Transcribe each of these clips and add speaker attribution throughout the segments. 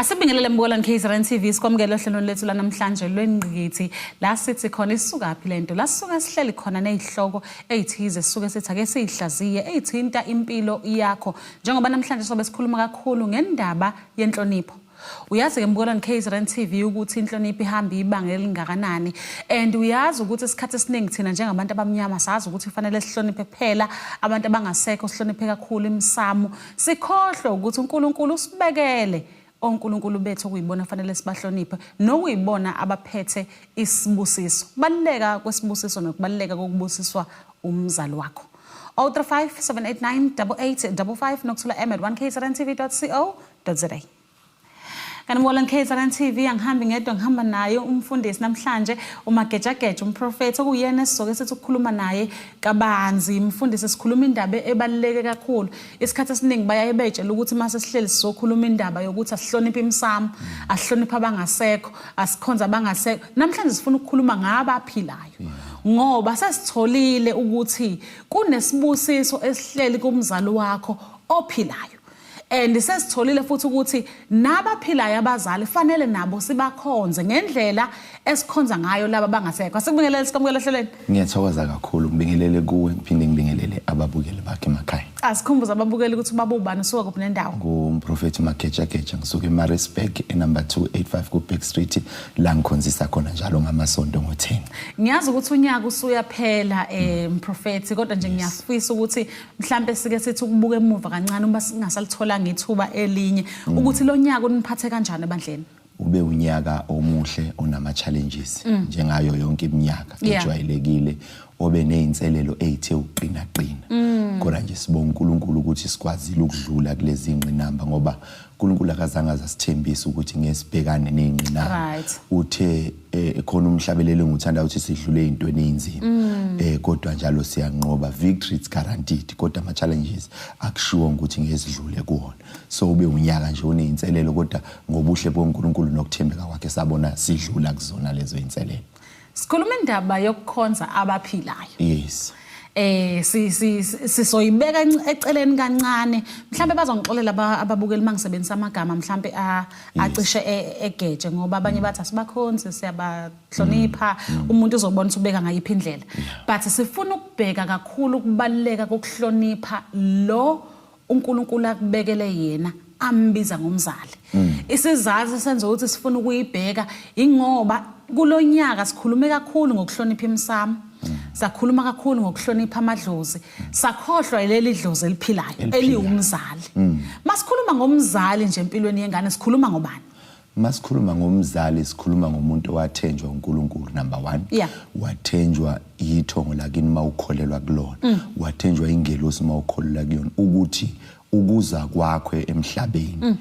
Speaker 1: Asibingelele mbukelani KZN TV sikwamukele ohlelweni lethu lanamhlanje lwengqikithi la sithi khona isukaphi lento la sisuke sihleli khona nezihloko ezithize sisuke sithi ake sizihlaziye ezithinta impilo yakho njengoba namhlanje sobe sikhuluma kakhulu ngendaba yenhlonipho uyazi ke mbukelani KZN TV ukuthi inhlonipho ihamba ibanga elingakanani and uyazi ukuthi isikhathi esiningi thina njengabantu abamnyama sazi ukuthi kufanele sihloniphe kuphela abantu abangasekho sihloniphe kakhulu imisamu Sikhohlwe ukuthi uNkulunkulu usibekele onkulunkulu bethu okuyibona fanele sibahloniphe nokuyibona abaphethe isibusiso baluleka kwesibusiso nokubaluleka kokubusiswa umzali wakho 035 789 8855 nokuthola m at 1 kzrntv co za kanti ngola ngikhetha kan TV angihambi ngedwa ngihamba naye umfundisi namhlanje umagejageja umprofethi okuyena esizoke sithi ukukhuluma naye kabanzi mfundisi sikhuluma indaba ebaluleke kakhulu isikhathi esiningi bayaye bejela ukuthi mase sihleli sizokhuluma indaba yokuthi asihloniphe imsamo asihloniphe abangasekho asikhonza abangasekho namhlanje sifuna ukukhuluma ngaba aphilayo ngoba sesitholile ukuthi kunesibusiso esihleli kumzali wakho ophilayo and sesitholile futhi ukuthi nabaphilayo abazali fanele nabo sibakhonze ngendlela esikhonza ngayo laba bangasekho asikubingelele sikamukela ehlelweni ngiyathokoza kakhulu
Speaker 2: ngibingelele kuwe ngiphinde ngibingelele ababukeli bakhe emakhaya asikhumbuza ababukeli
Speaker 1: ukuthi babubani usuka kuphi nendawo ngumprofethi
Speaker 2: magejageja ngisuke emarisburg enumber 285 kuback street la ngikhonzisa khona njalo ngamasonto ngo-10 ngiyazi ukuthi unyaka
Speaker 1: usuyaphela um mprofethi kodwa nje ngiyafisa ukuthi mhlambe sike sithi ukubuka emuva kancane uma singasalitholanga ithuba elinye mm. ukuthi lo nyaka uniphathe kanjani ebandleni ube unyaka
Speaker 2: omuhle onama challenges mm. njengayo yonke iminyaka ejwayelekile obe nezinselelo ezithe uqina qina mm. kodwa nje sibonga uNkulunkulu ukuthi sikwazile ukudlula kulezi ngqinamba ngoba uNkulunkulu akazange azasithembisa ukuthi ngesibhekane nengqinamba right. uthe eh, khona umhlabelelo ngithanda ukuthi sidlule intweni einzima mm. eh, kodwa njalo siyanqoba victory it's guaranteed kodwa ama challenges akushiwo ukuthi ngezidlule kuona so ube unyaka nje uneinselelo kodwa ngobuhle boNkulunkulu nokuthembeka kwakhe sabona sidlula kuzona lezo inselelo Sikhuluma indaba
Speaker 1: yokukhonza abaphilayo.
Speaker 2: Yes. eh
Speaker 1: sisoyibeka eceleni kancane mhlambe bazongixolela ababukeli mangisebenzisa amagama mhlambe acishe e, egeje ngoba abanye bathi asibakhonzi siyabahlonipha mm, mm. umuntu uzobona ubeka ngayiphi indlela but sifuna ukubheka kakhulu ukubaleka kokuhlonipha lo uNkulunkulu akubekele yena ambiza ngomzali mm. isizathu senza ukuthi sifuna ukuyibheka ingoba kulonyaka sikhulume kakhulu ngokuhlonipha imsamo mm. sakhuluma kakhulu ngokuhlonipha amadlozi sakhohlwa leli dlozi eliphilayo eliwumzali mm. masikhuluma ngomzali nje empilweni yengane sikhuluma ngobani Masikhuluma
Speaker 2: ngomzali sikhuluma ngomuntu owathenjwa uNkulunkulu number 1 yeah. wathenjwa yithongo lakini mawukholelwa kulona mm. wathenjwa ingelosi mawukholelwa kuyona ukuthi ukuza kwakho emhlabeni mm.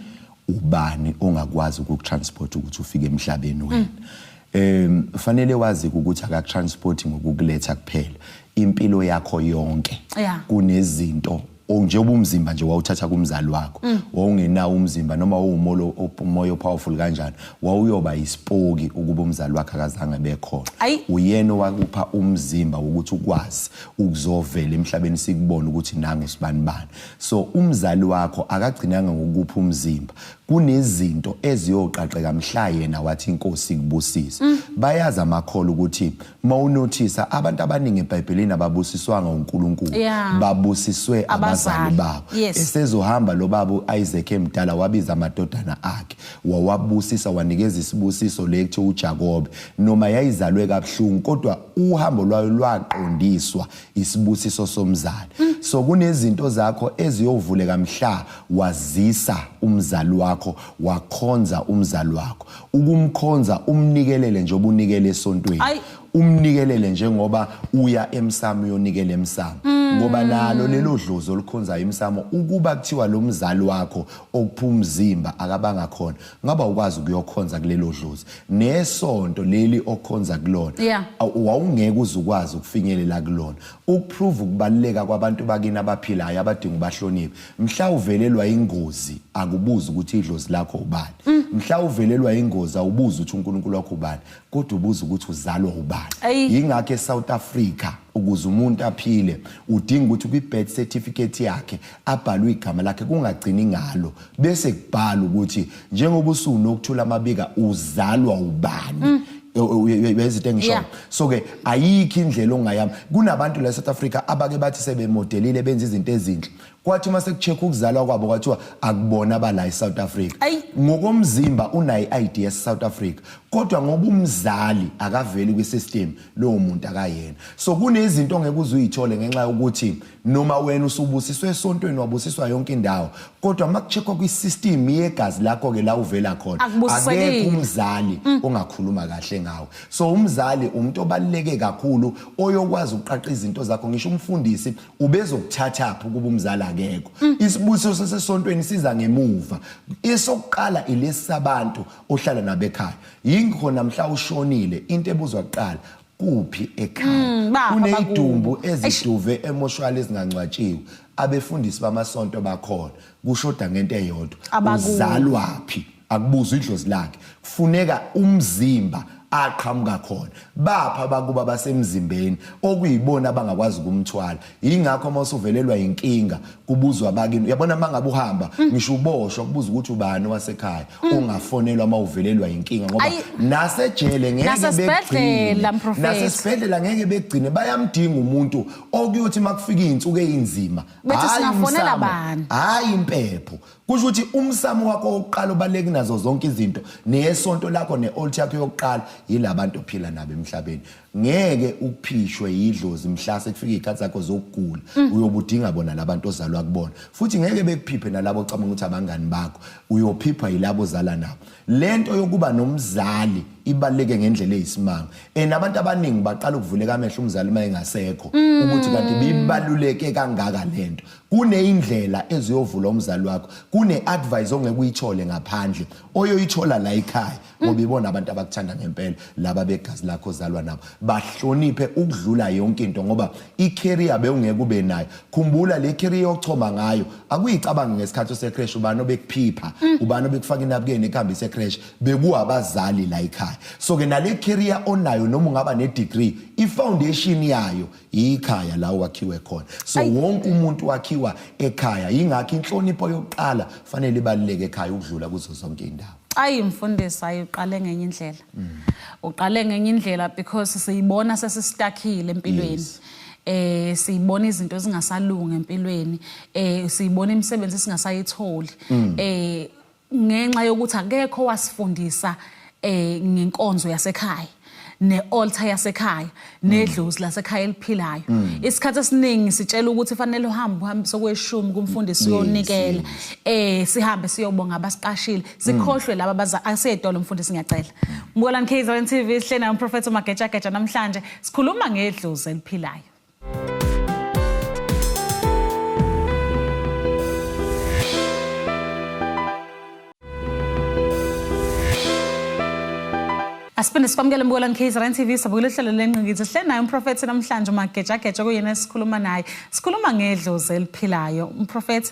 Speaker 2: ubani ongakwazi ukutransport ukuthi ufike emhlabeni wena mm. em fanele wazi ukuthi akatransport ngokukuletha kuphela impilo yakho yonke yeah. kunezinto or nje ubumzimba nje wawuthatha kumzali wakho mm. wawungenawo umzimba noma wawumolo umoya powerful kanjani wawuyoba isipoki ukuba umzali wakhe akazange bekhona uyena wakupha umzimba ukuthi ukwazi ukuzovela emhlabeni sikubona ukuthi nangu sibani bani so umzali wakho akagcinanga ngokupha umzimba kunezinto eziyoqaqeka mhla yena wathi inkosi kubusisa mm. bayazi amakhola ukuthi uma unothisa abantu abaningi ebhayibhelini ababusiswanga unkulunkulu yeah. babusiswe abazali babo yes. esezohamba lo baba u-isaac emdala wabiza amadodana akhe wawabusisa wanikeza isibusiso le kuthiwa ujakobe noma yayizalwe kabuhlungu kodwa uhambo lwayo lwaqondiswa isibusiso somzali mm. so kunezinto zakho eziyovuleka mhla wazisa umzali wakho wakhonza umzali wakho ukumkhonza umnikelele njengoba unikele esontweni Ay. umnikelele njengoba uya emsamo uyonikela emsamo mm. ngoba nalo lelo dlozi olukhonzayo emsamo ukuba kuthiwa lo mzali wakho okuphuma umzimba akabanga khona ngaba ukwazi ukuyokhonza kulelo dlozi nesonto leli okhonza kulona yeah. wawungeke uze ukwazi ukufinyelela kulona ukuprove ukubaluleka kwabantu bakini abaphilayo abadinga ubahlonipha mhla uvelelwa ingozi akubuzi ukuthi idlozi lakho ubani mm. mhla uvelelwa ingozi awubuzi ukuthi uNkulunkulu wakho ubani kodwa ubuza ukuthi uzalwa ubani yingakho eSouth Africa ukuze umuntu aphile udinga ukuthi kwi-birth certificate yakhe abhalwe igama lakhe kungagcini ngalo bese kubhala ukuthi njengoba usunokuthula amabika uzalwa ubani mm. uyezithe ngisho so ke ayikho indlela ongayami kunabantu la South Africa abake bathi sebemodelile benza izinto ezinhle kwathi uma sekucheck ukuzalwa kwabo kwathiwa akubona abala eSouth Africa Ayi. ngokomzimba unayi ID yaseSouth Africa kodwa ngoba umzali akaveli kwisystem lowo muntu akayena so kunezinto ongeke uze uyithole ngenxa yokuthi noma wena usubusiswe esontweni wabusiswa yonke indawo kodwa uma kucheckwa kwisystem yegazi lakho ke la uvela khona Akubusisekile. akekho umzali ongakhuluma kahle ngawe so umzali umuntu obaluleke kakhulu oyokwazi ukuqaqa izinto zakho ngisho umfundisi ubezokuthathaphi ukuba umzali akekho mm. isibusiso sasesontweni siza ngemuva esokuqala ilesi sabantu ohlala nabo ekhaya yingikho namhla ushonile into ebuzwa kuqala kuphi ekhaya mm, kuneyidumbu eziduve emoshwali ezingangcwatshiwe abefundisi bamasonto bakhona kushoda ngento eyodwa uzalwaphi akubuzwa idlozi lakhe kufuneka umzimba aqhamuka khona bapha bakuba basemzimbeni okuyibona abangakwazi ukumthwala ingakho uma usuvelelwa inkinga kubuzwa abakini uyabona mangabe uhamba mm. ngisho uboshwa kubuza ukuthi ubani wasekhaya mm. ungafonelwa uma uvelelwa inkinga ngoba nasejele ngeke begcine nasesibhedlela ngeke begcine bayamdinga umuntu okuyothi makufika izinsuku ezinzima hayi umsamo hayi impepho kusho ukuthi umsamo wakho wokuqala obaluleke kunazo zonke izinto neyesonto lakho ne-olt yakho yokuqala yila bantu ophila nabo emhlabeni ngeke uphishwe yidlozi mhla sekufika iy'khathi zakho zokugula mm. uyobudinga bona labantu ozalwa kubona futhi ngeke bekuphiphe nalabo ocabanga ukuthi abangani bakho uyophiphwa yilabo ozala nabo le nto yokuba nomzali ibaluleke ngendlela eyisimanga and abantu abaningi baqala ukuvuleka amehlo umzali uma engasekho mm. ukuthi kanti bibaluleke kangaka le nto kuneyindlela eziyovula umzali wakho kune-advice ongeke uyithole ngaphandle oyoyithola la ekhaya ngoba ibona abantu abakuthanda ngempela laba begazi lakho ozalwa nabo bahloniphe ukudlula yonke into ngoba i-career bewungeke ube nayo khumbula le career yochoma ngayo akuyicabangi ngesikhathi osecresh ubani obekuphipha mm. ubani obekufaka inabukeni ekuhambe isecresh bekuwabazali la ekhaya so-ke nale career onayo noma ungaba ne-degree i-foundation yayo yikhaya la wakhiwe khona so wonke umuntu wakhiwa ekhaya yingakho inhlonipho yokuqala fanele ibaluleke ekhaya ukudlula kuzo zonke indawo ayi mfundisi ayi
Speaker 1: uqale ngenye indlela mm. uqale ngenye indlela because siyibona sesistakile empilweni yes. eh siyibona izinto ezingasalungi empilweni eh siyibona imisebenzi singasayitholi mm. eh ngenxa yokuthi akekho wasifundisa eh ngenkonzo yasekhaya ne-altar yasekhaya nedlozi mm. lasekhaya eliphilayo mm. isikhathi esiningi sitshela ukuthi fanele uhambe uhambe sokweshumi kumfundisi uyonikela eh sihambe siyobonga abasiqashile sikhohlwe laba baza asedolo mfundisi ngiyacela mbukelani KZN TV sihlena umprofethi uMageja Geja namhlanje sikhuluma ngedlozi eliphilayo Asiphinde sikwamukele mbukela ngeKZN TV sabukela uhlelo lenqingithi sihle naye umprofethi namhlanje uMagejageja kuyena esikhuluma naye sikhuluma ngedlozi eliphilayo umprofethi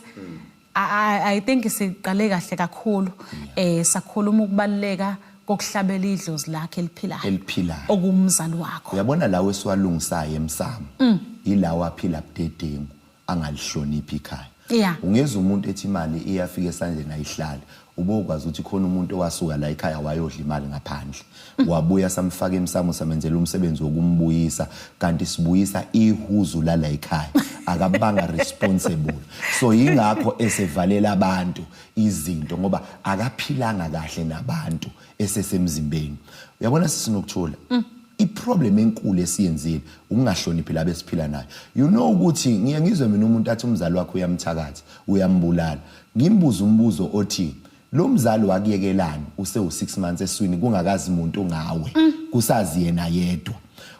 Speaker 1: I, I think siqale kahle kakhulu eh sakhuluma ukubaluleka kokuhlabela idlozi lakhe eliphilayo eliphilayo okumzali wakho uyabona lawo esiwalungisayo
Speaker 2: emsamo mm. yilawo aphila budedengu angalihloniphi ikhaya yeah. ungeza umuntu ethi imali iyafika esandleni ayihlali Ubokwazi ukuthi khona umuntu owasuka la ekhaya wayodla imali ngaphandle wabuya samfaka emsamo samenzela umsebenzi wokumbuyisa kanti sibuyisa ihuzu lala ekhaya akabanga responsible so yingakho esevalela abantu izinto ngoba akaphilanga kahle nabantu esesemzimbeni uyabona sisinokuthula mm. iproblem enkulu esiyenzile ukungahloniphi labo esiphila nayo you know ukuthi ngiye ngizwe mina umuntu athi umzali wakho uyamthakatha uyambulala Ngimbuze umbuzo othi lo mzali wakuyekelani usewu 6 months eswini kungakazi muntu ngawe kusazi yena yedwa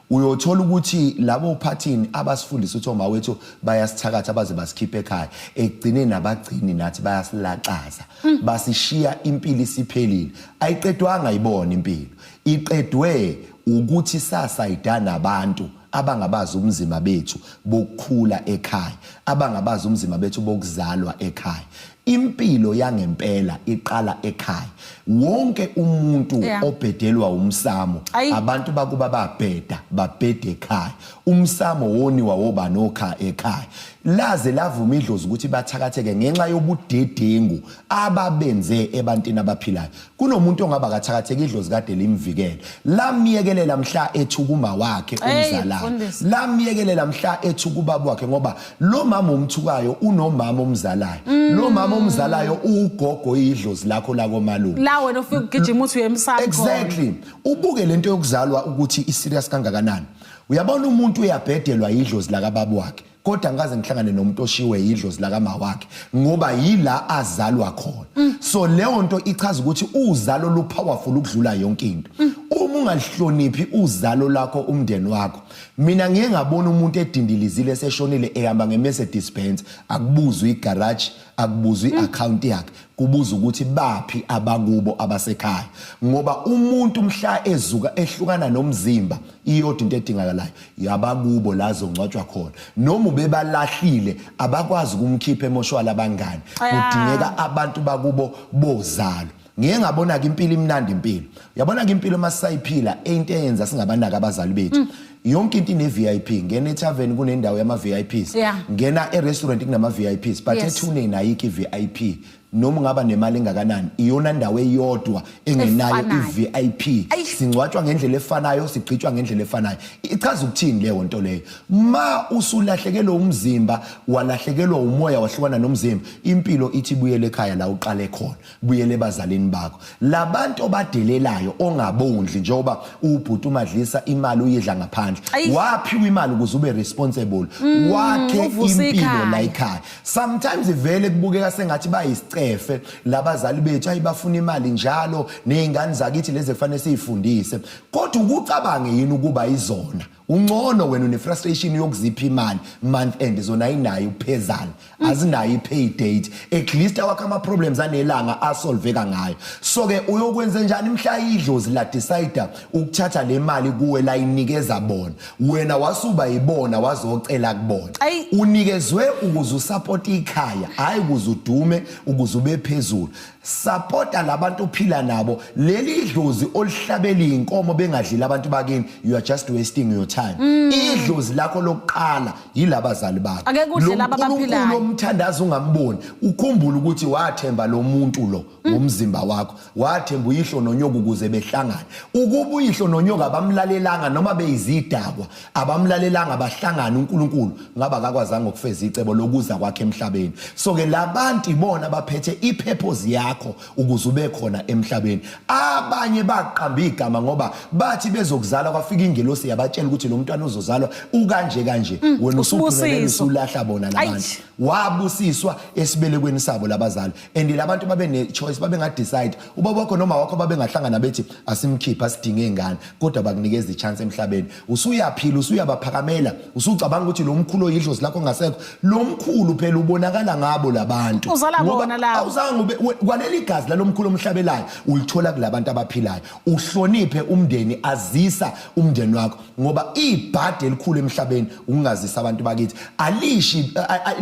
Speaker 2: uyothola ukuthi labo uphathini abasifundisa ukuthi oma wethu bayasithakatha baze basikhiphe ekhaya ekugcineni abagcini nathi bayasilaxaza mm. basishiya impilo isiphelile ayiqedwanga ibona impilo iqedwe ukuthi sasayidana abantu abangabazi ubunzima bethu bokukhula ekhaya abangabazi ubunzima bethu bokuzalwa ekhaya impilo yangempela iqala ekhaya wonke umuntu yeah. obhedelwa umsamo Ayi. abantu bakuba babheda babhede ekhaya umsamo woniwa wobani okhaya ekhaya laze lavuma idlozi ukuthi bathakatheke ngenxa yobudedengu ababenze ebantini abaphilayo Kunomuntu ongaba kathakatheki idlozi kade limvikele. Lamyekelela mhla ethi ukuma wakhe umzalayo. Lamyekelela mhla ethi ukubaba wakhe ngoba lo mama umthukayo unomama omzalayo. Mm. Lo mama omzalayo ugogo idlozi lakho lako malume. La wena ufika ugijima
Speaker 1: uthi uyemsakho. Exactly.
Speaker 2: Ubuke lento yokuzalwa ukuthi i serious kangakanani. Uyabona umuntu uyabhedelwa idlozi laka babu wakhe. kodwa ngikaze ngihlangane nomuntu oshiwe yidlozi lakama wakhe ngoba yila azalwa khona mm. so leyo nto ichaza ukuthi uzalo lu powerful ukudlula yonke into mm. uma ungalihloniphi uzalo lakho umndeni wakho mina ngiye ngabona umuntu edindilizile seshonile ehamba nge-message dispense akubuzwe igarage akubuzwa i-account yakhe kubuza ukuthi baphi abakubo abasekhaya ngoba umuntu mhla ezuka ehlukana nomzimba iyodwa into edingakalayo yabakubo la zongcwatshwa khona noma ubebalahlile abakwazi ukumkhipha emoshwala abangani kudingeka abantu bakubo bozalo ngiye ngabona ke impilo imnandi impilo uyabona ke impilo uma sisayiphila into eyenza singabanaka abazali bethu mm. yonke into ine VIP ngena etavern kunendawo yama VIPs ngena e restaurant kunama VIPs but ethune nayo ki VIP noma ungaba nemali engakanani iyona ndawo eyodwa engenayo iVIP singcwatshwa ngendlela efanayo sigcitshwa ngendlela efanayo ichaza ukuthini leyo nto leyo ma usulahlekelwe umzimba walahlekelwa umoya wahlukana nomzimba impilo ithi buyele ekhaya la uqale khona buyele ebazalini bakho labantu obadelelayo ongabondli njengoba ubhuti umadlisa imali uyidla ngaphandle waphiwa imali ukuze ube responsible mm, wakhe impilo la ekhaya sometimes vele kubukeka sengathi bayisicefe labazali bethu ayibafuna imali njalo nezingane zakithi lezi efanele siyifundise kodwa ukucabange yini ukuba izona Uncono wena une frustration yokuzipha imali month end zona ayinayo uphezana mm. azinayo ipay date at least awakha ama problems anelanga asolveka ngayo so ke uyokwenza njani mhla idlozi la decide ukuthatha le mali kuwe la inikeza bona wena wasuba ibona wazocela kubona unikezwe ukuze usupport ikhaya hayi ukuze udume ukuze ube phezulu sapota labantu uphila nabo leli idlozi olihlabela inkomo bengadlile abantu bakini you are just wasting your time mm. idlozi lakho lokuqala yilabazali bakho ake kudle laba baphilayo
Speaker 1: lo mthandazo
Speaker 2: ungamboni ukhumbula ukuthi wathemba lo muntu lo mm. ngomzimba wakho wathemba uyihlo nonyoka ukuze behlangane ukuba uyihlo nonyoka bamlalelanga noma beyizidakwa abamlalelanga bahlangana uNkulunkulu ngaba akakwazanga ukufeza icebo lokuza kwakhe emhlabeni so ke labantu ibona baphethe ipurpose yakho ukuze ube khona emhlabeni abanye baqamba igama ngoba bathi bezokuzala kwafika ingelosi yabatshela ukuthi lo mntwana uzozalwa ukanje kanje mm, wena usuphumelele usulahla bona labantu wabusiswa esibelekweni sabo labazali and labantu babe ne choice babe nga decide ubaba wakho noma wakho babe ngahlangana bethi asimkhipha sidinge ingane kodwa bakunikeza i chance emhlabeni usuyaphila usuyabaphakamela usucabanga ukuthi lo mkhulu oyidlozi lakho ngasekho lo mkhulu phela ubonakala ngabo labantu uzala bona la awuzange
Speaker 1: ube
Speaker 2: kwaleli gazi lalomkhulu omhlabelayo ulithola kulabantu abaphilayo uhloniphe umndeni azisa umndeni wakho ngoba ibhadi elikhulu emhlabeni ukungazisa abantu bakithi alishi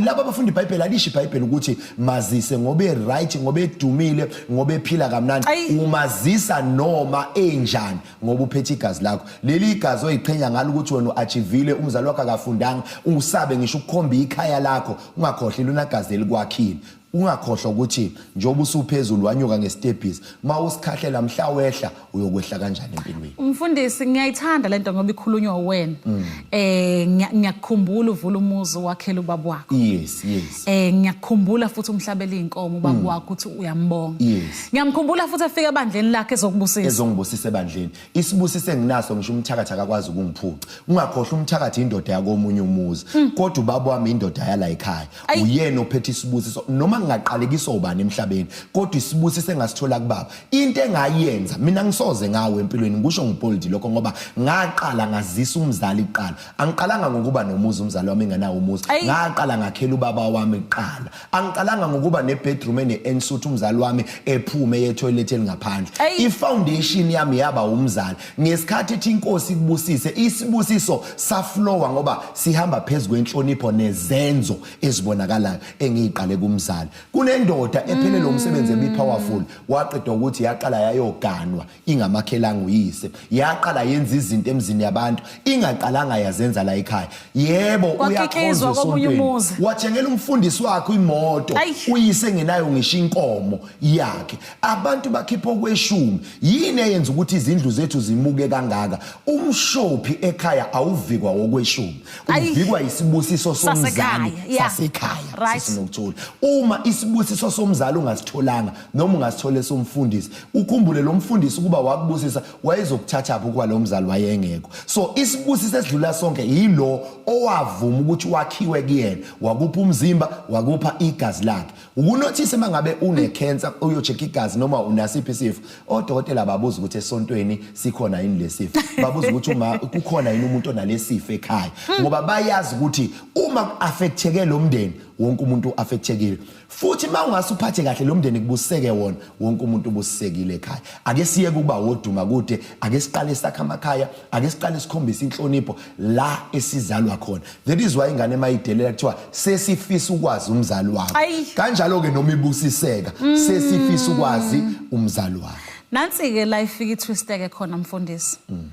Speaker 2: laba abafundi ibhayibheli alishi ibhayibheli ukuthi mazise ngobe right ngobe edumile ngobe ephila kamnandi umazisa noma enjani ngoba uphethe igazi lakho leli igazi oyiqhenya ngalo ukuthi wena uachivile umzali wakho akafundanga usabe ngisho ukukhomba ikhaya lakho ungakhohli lona gazi elikwakhile Ungakhohlwa ukuthi njengoba usuphezulu wanyuka ngesitebhisi uma usikhahlela mhla wehla uyokwehla kanjani empilweni. Mfundisi ngiyayithanda
Speaker 1: lento ngoba ikhulunywa uwena. Mm. Eh ngiyakukhumbula uvula umuzi wakhela ubaba wakho. Yes, yes.
Speaker 2: Eh ngiyakukhumbula
Speaker 1: futhi umhlabela inkomo ubaba mm. wakho ukuthi uyambonga. Yes. Ngiyamkhumbula futhi afika ebandleni lakhe ezokubusisa. Ezongibusisa
Speaker 2: ebandleni. isibusiso enginaso ngisho umthakathi akakwazi ukungiphuca ungakhohlwa umthakathi indoda yakomunye umuzi hmm. kodwa ubaba wami indoda yala ekhaya uyena ophethe isibusiso noma ngingaqalekisa ubani emhlabeni kodwa isibusiso engasithola kubaba into engayenza mina ngisoze ngawe empilweni ngisho ngipoliti lokho ngoba ngaqala ngazisa umzali kuqala angiqalanga ngokuba nomuzi umzali wami enganawo umuzi ngaqala ngakhela ubaba wami kuqala angiqalanga ngokuba nebedroom ene-ensuthi umzali wami ephume yethoyilethi elingaphandle ifoundation yami yaba umzali ngesikhathi ethi inkosi ikubusise isibusiso saflowa ngoba sihamba phezu kwenhlonipho nezenzo ezibonakalayo engiyiqale kumzali kunendoda ephelele umsebenzi ebipowerful waqeda ukuthi yaqala yayoganwa ingamakhelanga uyise yaqala yenza izinto emzini yabantu ingaqalanga yazenza la ekhaya yebo uyakhonza esontweni wathengela umfundisi wakhe imoto uyise ngenayo ngisho inkomo yakhe abantu bakhipha okweshumi yini eyenza ukuthi izindlu zethu zimuke kangaka umshophi ekhaya awuvikwa wokweshumi uvikwa isibusiso somzali sasekhaya sinokuthula uma isibusiso somzali ungasitholanga noma ungasithole somfundisi ukhumbule lo mfundisi ukuba wakubusisa wayezokuthathaphi ukuba lo mzali wayengekho so isibusiso esidlula sonke yilo owavuma ukuthi wakhiwe kuyena wakupha umzimba wakupha igazi lakhe ukunothise uma ngabe unekhensa uyocheka igazi noma unasiphi isifo odokotela babuza ukuthi esontweni sikhona yini lesifo babuza ukuthi uma kukhona yini umuntu onalesifo ekhaya ngoba bayazi ukuthi uma ku-affecteke lo mndeni wonke umuntu u-affectekile futhi uma ungase uphathe kahle lo mndeni kubuseke wona wonke umuntu ubusekile ekhaya ake siye kuba woduma kude ake siqale sakha amakhaya ake siqale sikhombise inhlonipho la esizalwa khona that is why ingane mayidelela kuthiwa sesifisa ukwazi umzali wakho kanjalo ke noma ibusiseka mm. sesifisa ukwazi umzali wakho nansi ke la
Speaker 1: ifika itwisteke khona mfundisi mm.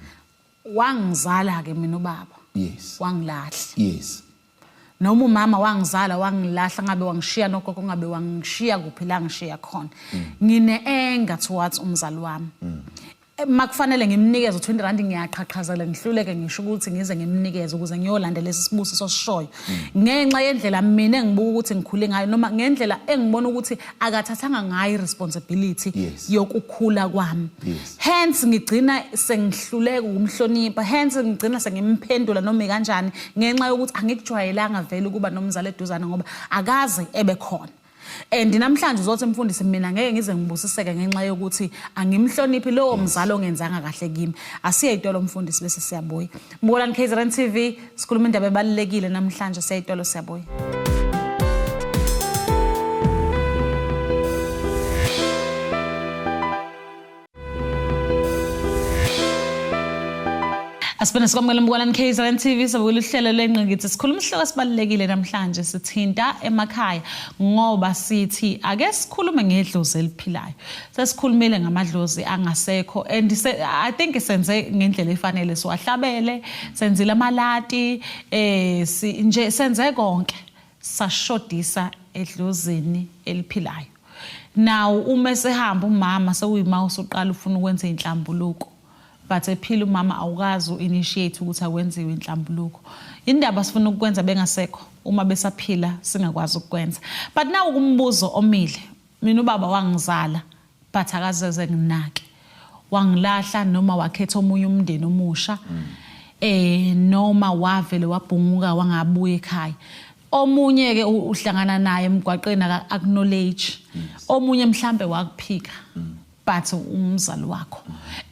Speaker 1: wangizala ke mina ubaba yes wangilahla yes
Speaker 2: noma
Speaker 1: umama wangizala wangilahla ngabe wangishiya nogogo ngabe wangishiya kuphi la ngishiya khona mm. ngine-enga towards umzali wami mm. eh, makufanele ngimnikeze u-20 rand ngiyaqhaqhazela ngihluleke ngisho ukuthi ngize ngimnikeze ukuze ngiyolanda lesi sibusiso sishoyo mm. ngenxa yendlela mina engibuka ukuthi ngikhule ngayo noma ngendlela engibona ukuthi akathathanga ngayo i-responsibility yokukhula kwami hence ngigcina sengihluleka ukumhlonipha hence ngigcina sengimphendula noma kanjani ngenxa yokuthi angikujwayelanga vele ukuba nomzali eduzane ngoba akaze ebe khona and namhlanje uzothi mfundisi mina ngeke ngize ngibusiseke ngenxa yokuthi angimhloniphi lowo mzali ongenzanga kahle kimi asiye itolo mfundisi bese siyabuya mbukolani KZN TV sikhuluma indaba ebalekile namhlanje siya itolo siyabuya Asibona sikwamukela umbukalani KZN TV sabukela uhlelo lengqikithi sikhuluma isihloko esibalulekile namhlanje sithinta emakhaya ngoba sithi ake sikhulume ngedlozi eliphilayo sesikhulumile ngamadlozi angasekho and I think senze ngendlela efanele siwahlabele senzile amalati eh nje senze konke sashodisa edlozini eliphilayo nawu uma esehamba umama sewuyima usuqala ufuna ukwenza inhlambuluko but ephila umama awukazi u-initiate ukuthi akwenziwe inhlambuluko indaba sifuna ukukwenza bengasekho uma besaphila singakwazi ukukwenza but nawu kumbuzo omile mina ubaba wangizala but akazeze nginake wangilahla noma wakhetha omunye umndeni omusha mm. eh noma wavele wabhunguka wangabuya ekhaya omunye ke uhlangana naye emgwaqeni acknowledge omunye mhlambe wakuphika but umzali wakho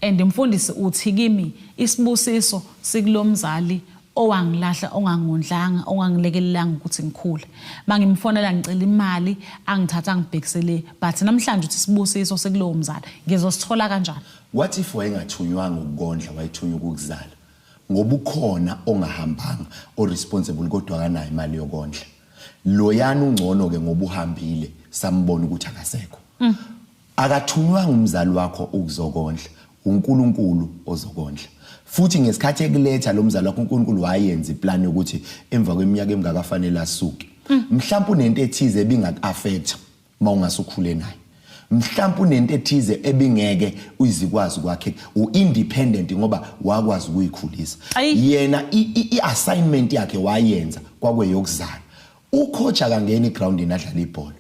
Speaker 1: and mfundisi uthi kimi isibusiso sikulomzali owangilahla ongangondlanga ongangilekelelanga ukuthi ngikhule mangimfonela ngicela imali angithatha ngibhekisele but namhlanje uthi sibusiso sekulowo mzali ngizosithola kanjani what if
Speaker 2: wayengathunywanga ukukondla wayethunywa ukuzala ngoba ukhona ongahambanga oresponsible kodwa akanayo imali yokondla loyana ungcono ke ngoba uhambile sambona ukuthi akasekho mm. akathunywanga umzali wakho ukuzokondla uNkulunkulu ozokondla futhi ngesikhathi ekuletha lo mzali wakho uNkulunkulu wayenza iplan yokuthi emva kweminyaka emingakafanele asuke hmm. mhlawumbe unento ethize ebingakuaffect uma ungase ukhule naye mhlawumbe unento ethize ebingeke uyizikwazi kwakhe u-independent ngoba wakwazi ukuyikhulisa yena i-assignment yakhe wayenza kwakweyokuzala ucoach akangena egroundini adlala ibhola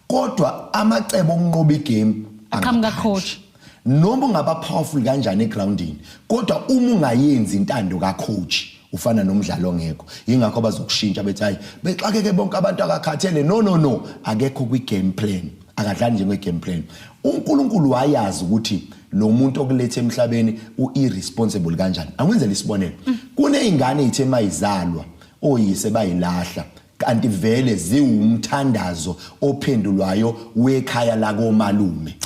Speaker 2: kodwa amacebo okunqoba igame aqhamuka coach
Speaker 1: Noma ungaba
Speaker 2: powerful kanjani egroundini kodwa uma ungayenzi intando ka coach ufana nomdlalo ongekho ingakho bazokushintsha bethi hayi bexakeke bonke abantu akakhathele no no no akekho kwi game plan akadlali njenge game plan uNkulunkulu wayazi ukuthi lo muntu okulethe emhlabeni uirresponsible kanjani angwenzele isibonelo kunezingane ezithe mayizalwa oyise bayilahla kanti vele ziwumthandazo ophendulwayo wekhaya lakomalume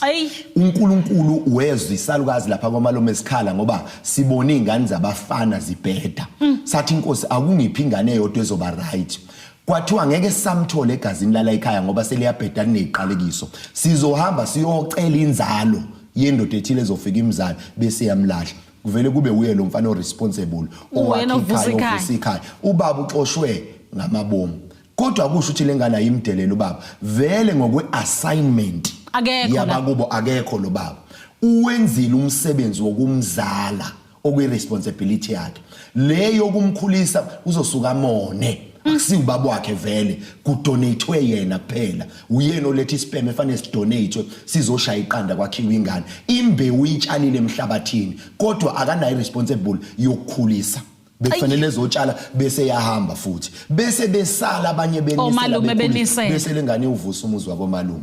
Speaker 2: uNkulunkulu wezwa isalukazi lapha komalume sikhala ngoba sibona izingane zabafana zibheda mm. sathi inkosi akungiphi ingane eyodwa ezoba right kwathiwa ngeke samthole egazini lala ekhaya ngoba seliyabheda kuneziqalekiso sizohamba siyocela inzalo yendoda ethile ezofika imzalo bese yamlahla kuvele kube uye lo mfana oresponsible Uwena ovusa owakhikhayo ikhaya. ovusa ikhaya ubaba uxoshwe ngamabomu kodwa kusho ukuthi le ngane ayimdelela ubaba vele ngokwe-assignment Akekho la. yabakubo akekho lo baba uwenzile umsebenzi wokumzala okuyi-responsibility yakhe le yokumkhulisa uzosuka amone akusiwubaba wakhe vele kudonathiwe yena kuphela uyena oletha ispem efanele sidonate sizoshaya iqanda kwakhiwa ingane imbewu uyitshalile emhlabathini kodwa akanayo responsible yokukhulisa bekufanele ezotshala bese yahamba futhi bese besala abanye benisela bese lengane uvusa umuzi wabo malume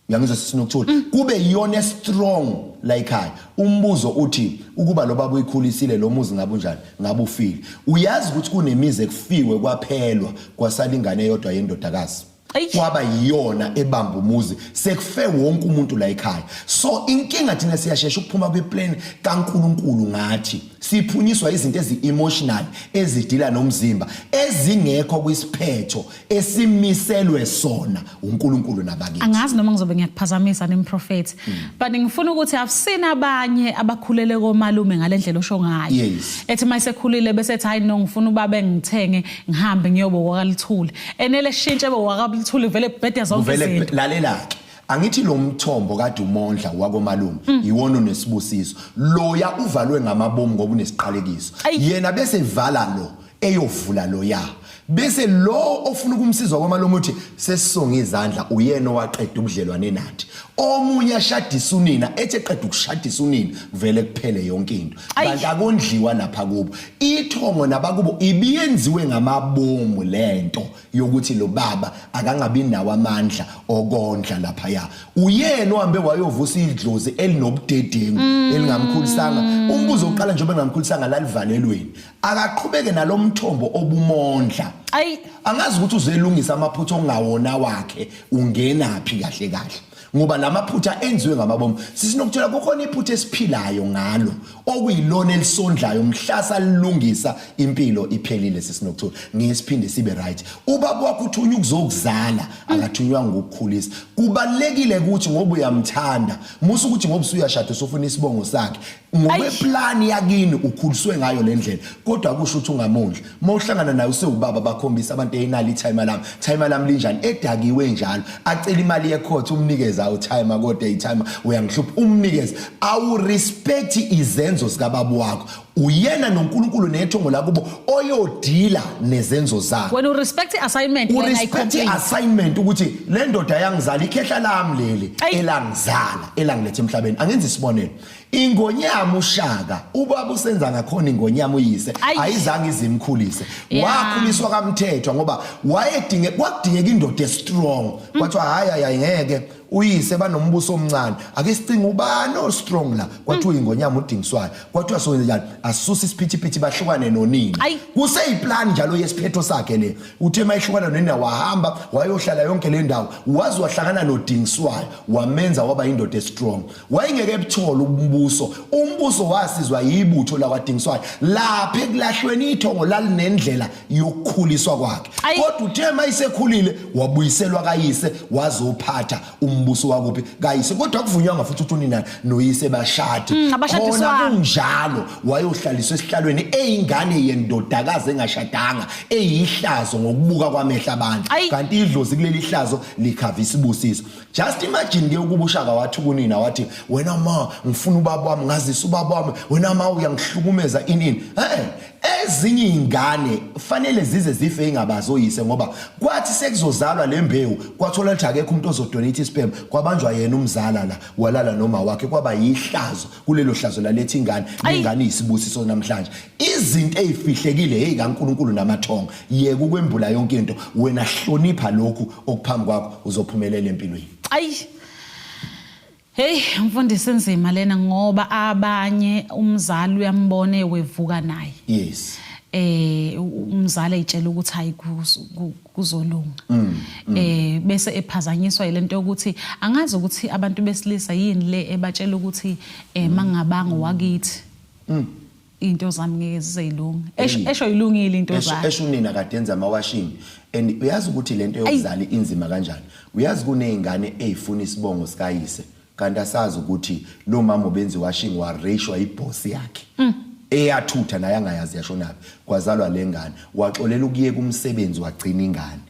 Speaker 2: uyangizwa sisinokuthula mm. kube iyona strong la ekhaya umbuzo uthi ukuba lo baba uyikhulisile lo muzi ngabe unjani ngabe ufile uyazi ukuthi kunemizi ekufiwe kwaphelwa kwasala ingane eyodwa yendodakazi kwaba yiyona ebamba umuzi sekufe wonke umuntu la ekhaya so inkinga thina siyashesha ukuphuma kweplan kaNkuluNkulu ngathi siphunyiswa izinto ezi-emotional ezidila nomzimba ezingekho kwisiphetho esimiselwe sona uNkulunkulu nabakithi angazi noma ngizobe
Speaker 1: ngiyakuphazamisa nemprofethi mm. but ngifuna ukuthi i've seen abanye abakhulele komalume ngalendlela osho ngayo yes. ethi mayisekhulile bese ethi hayi no ngifuna ubaba engithenge ngihambe ngiyobo wakaluthuli enele shintshe bo wakaluthuli vele bhede zonke vele izinto lalela ke
Speaker 2: angithi lo mthombo kade umondla wakomalume mm. yiwona onesibusiso loya uvalwe ngamabomu ngoba unesiqalekiso yena bese vala lo eyovula loya bese lo ofuna ukumsiza kwamalume uthi sesisonga izandla uyena owaqeda ubudlelwane nathi omunye ashadisa unina ethi eqeda ukushadisa unina vele kuphele yonke into kanti akondliwa lapha kubo ithongo nabakubo ibiyenziwe ngamabomu lento yokuthi lo baba akangabi nawo amandla okondla lapha ya uyena ohambe wayovusa idlozi elinobudedengu mm. elingamkhulisanga umbuzo oqala njengoba engamkhulisanga lalivalelweni akaqhubeke nalomthombo obumondla ayi angazi ukuthi uzelungisa amaphutha ongawona wakhe ungenaphi kahle kahle ngoba lamaphutha enziwe ngamabomu sisinokuthola kukhona iphutha esiphilayo ngalo okuyilona elisondlayo mhlasa lilungisa impilo iphelile sisinokuthola ngesiphinde sibe right ubaba wakho uthunywa ukuzokuzala akathunywa ngokukhulisa kubalekile ukuthi ngoba uyamthanda musa ukuthi ngoba usuyashada usufuna isibongo sakhe ngokweplani yakini ukhuliswe ngayo le ndlela kodwa kusho ukuthi ungamondli uma uhlangana naye usewubaba bakhombisa abantu eyinali ithayima lami thayima lami linjani edakiwe njalo acela imali yekhothe umnikeze awu thayima kodwa ithayima uyangihlupha umnikeze awurespect izenzo zikababa wakho uyena noNkulunkulu nethongo lakubo oyodila nezenzo zakhe wena urespect iassignment
Speaker 1: wena urespect
Speaker 2: iassignment ukuthi le ndoda yangizala ikhehla lami leli elangizala elangilethe emhlabeni angenza isibonelo Ingonyama ushaka ubaba usenza ngakhona ingonyama uyise Ayi. ayizange izimkhulise Yeah. wakhuliswa kamthethwa ngoba wayedinge kwakudingeka indoda estrong kwathiwa hayi hayi hayi ngeke uyise banombuso omncane ake sicinga ubani ostrong la kwathiwa ingonyama udingiswayo kwathiwa sowenzenjani asuse isiphithiphithi bahlukane nonina Ayi. kuseyiplan njalo yesiphetho sakhe le uthe uma ehlukana nonina wahamba wayohlala yonke le ndawo waze wahlangana nodingiswayo wamenza waba yindoda estrong wayengeke ebuthole umbuso umbuso wasizwa yibutho lakwadingiswayo lapha ekulahlweni ithongo lalinendlela yokukhuliswa kwakhe kodwa uthe mayisekhulile wabuyiselwa kayise wazophatha umbuso wakuphi kayise kodwa kuvunywanga futhi ukuthi unina noyise bashadi mm, khona kunjalo wayohlaliswa esihlalweni eyingane yendodakazi engashadanga eyihlazo ngokubuka kwamehla abantu kanti idlozi kuleli hlazo likhavisa ibusiso just imagine ke ukuba ushaka wathi kunina wathi wena ma ngifuna ubaba wami ngazisa ubaba wami wena ma uyangihlukumeza inini eh ezinye izingane fanele zize zife ingabazi oyise ngoba kwathi sekuzozalwa lembewu kwathola ukuthi akekho umuntu ozodonate isperm kwabanjwa yena umzala la walala noma wakhe kwaba yihlazo kulelo hlazo laletha ingane ingane isibusiso namhlanje izinto ezifihlekile hey kaNkuluNkulu namathongo yeke ukwembula yonke into wena hlonipha lokhu okuphambi kwakho uzophumelela empilweni ayi
Speaker 1: Hey mfundisi inzima lena ngoba abanye umzali uyambone wevuka naye. Yes.
Speaker 2: Eh
Speaker 1: umzali ayitshela ukuthi hayi kuzolunga mm, mm. eh bese ephazanyiswa yilento yokuthi angazi ukuthi abantu besilisa yini le ebatshela ukuthi eh mm. mangabanga wakithi mm. into zami ngeke zizeyilunga esho esho ilungile into zakhe esho unina kade enza ama
Speaker 2: washing and uyazi ukuthi lento yokuzala inzima kanjani uyazi kunezingane ezifuna isibongo sikayise Kanti asazi ukuthi lo mama ubenzi washing wa ratioa iboss yakhe. Mm. Eyathutha naye angayazi yashonaphi kwazalwa lengane waxolela ukuyeka umsebenzi wagcina ingane.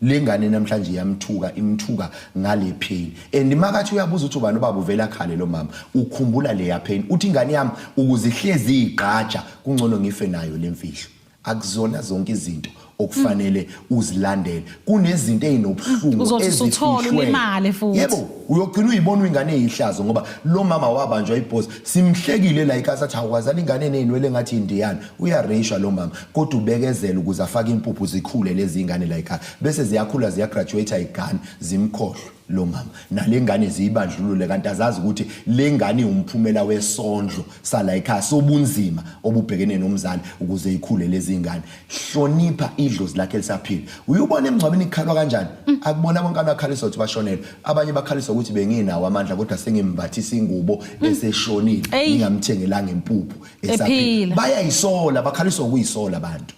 Speaker 2: Lengane namhlanje iyamthuka imthuka ngale pain and makathi uyabuza ukuthi ubani ubaba uvela khale lo mama ukhumbula leya pain uthi ingane yami ukuzihlezi igqaja kungcono ngife nayo lemfihlo akuzona zonke izinto okufanele uzilandele kunezinto ezinobuhlungu Uzothi usuthola ezifihlwe.
Speaker 1: ulimale futhi. yebo uyogcina
Speaker 2: uyibona uyingane eyihlazo ngoba lo mama wabanjwa ibhozi simhlekile la ikasa athi awukwazala ingane eneyinwele ngathi indiyana uyareyisha lo mama kodwa ubekezela ukuze afake impuphu zikhule lezi ingane la ikhaya bese ziyakhula ziyagraduate igane zimkhohlwe lo mama nale ngane ziyibandlulule kanti azazi ukuthi le ngane iwumphumela wesondlo sala ekhaya sobunzima obubhekene nomzali ukuze ikhule lezi ngane hlonipha idlozi lakhe lisaphila uyubona emngcwabeni ikhalwa kanjani mm. akubona bonke abakhalisa ukuthi bashonele abanye bakhalisa ukuthi benginawo amandla kodwa sengimbathisa ingubo mm. eseshonile ngingamthengelanga impuphu esaphila bayayisola bakhalisa ukuyisola abantu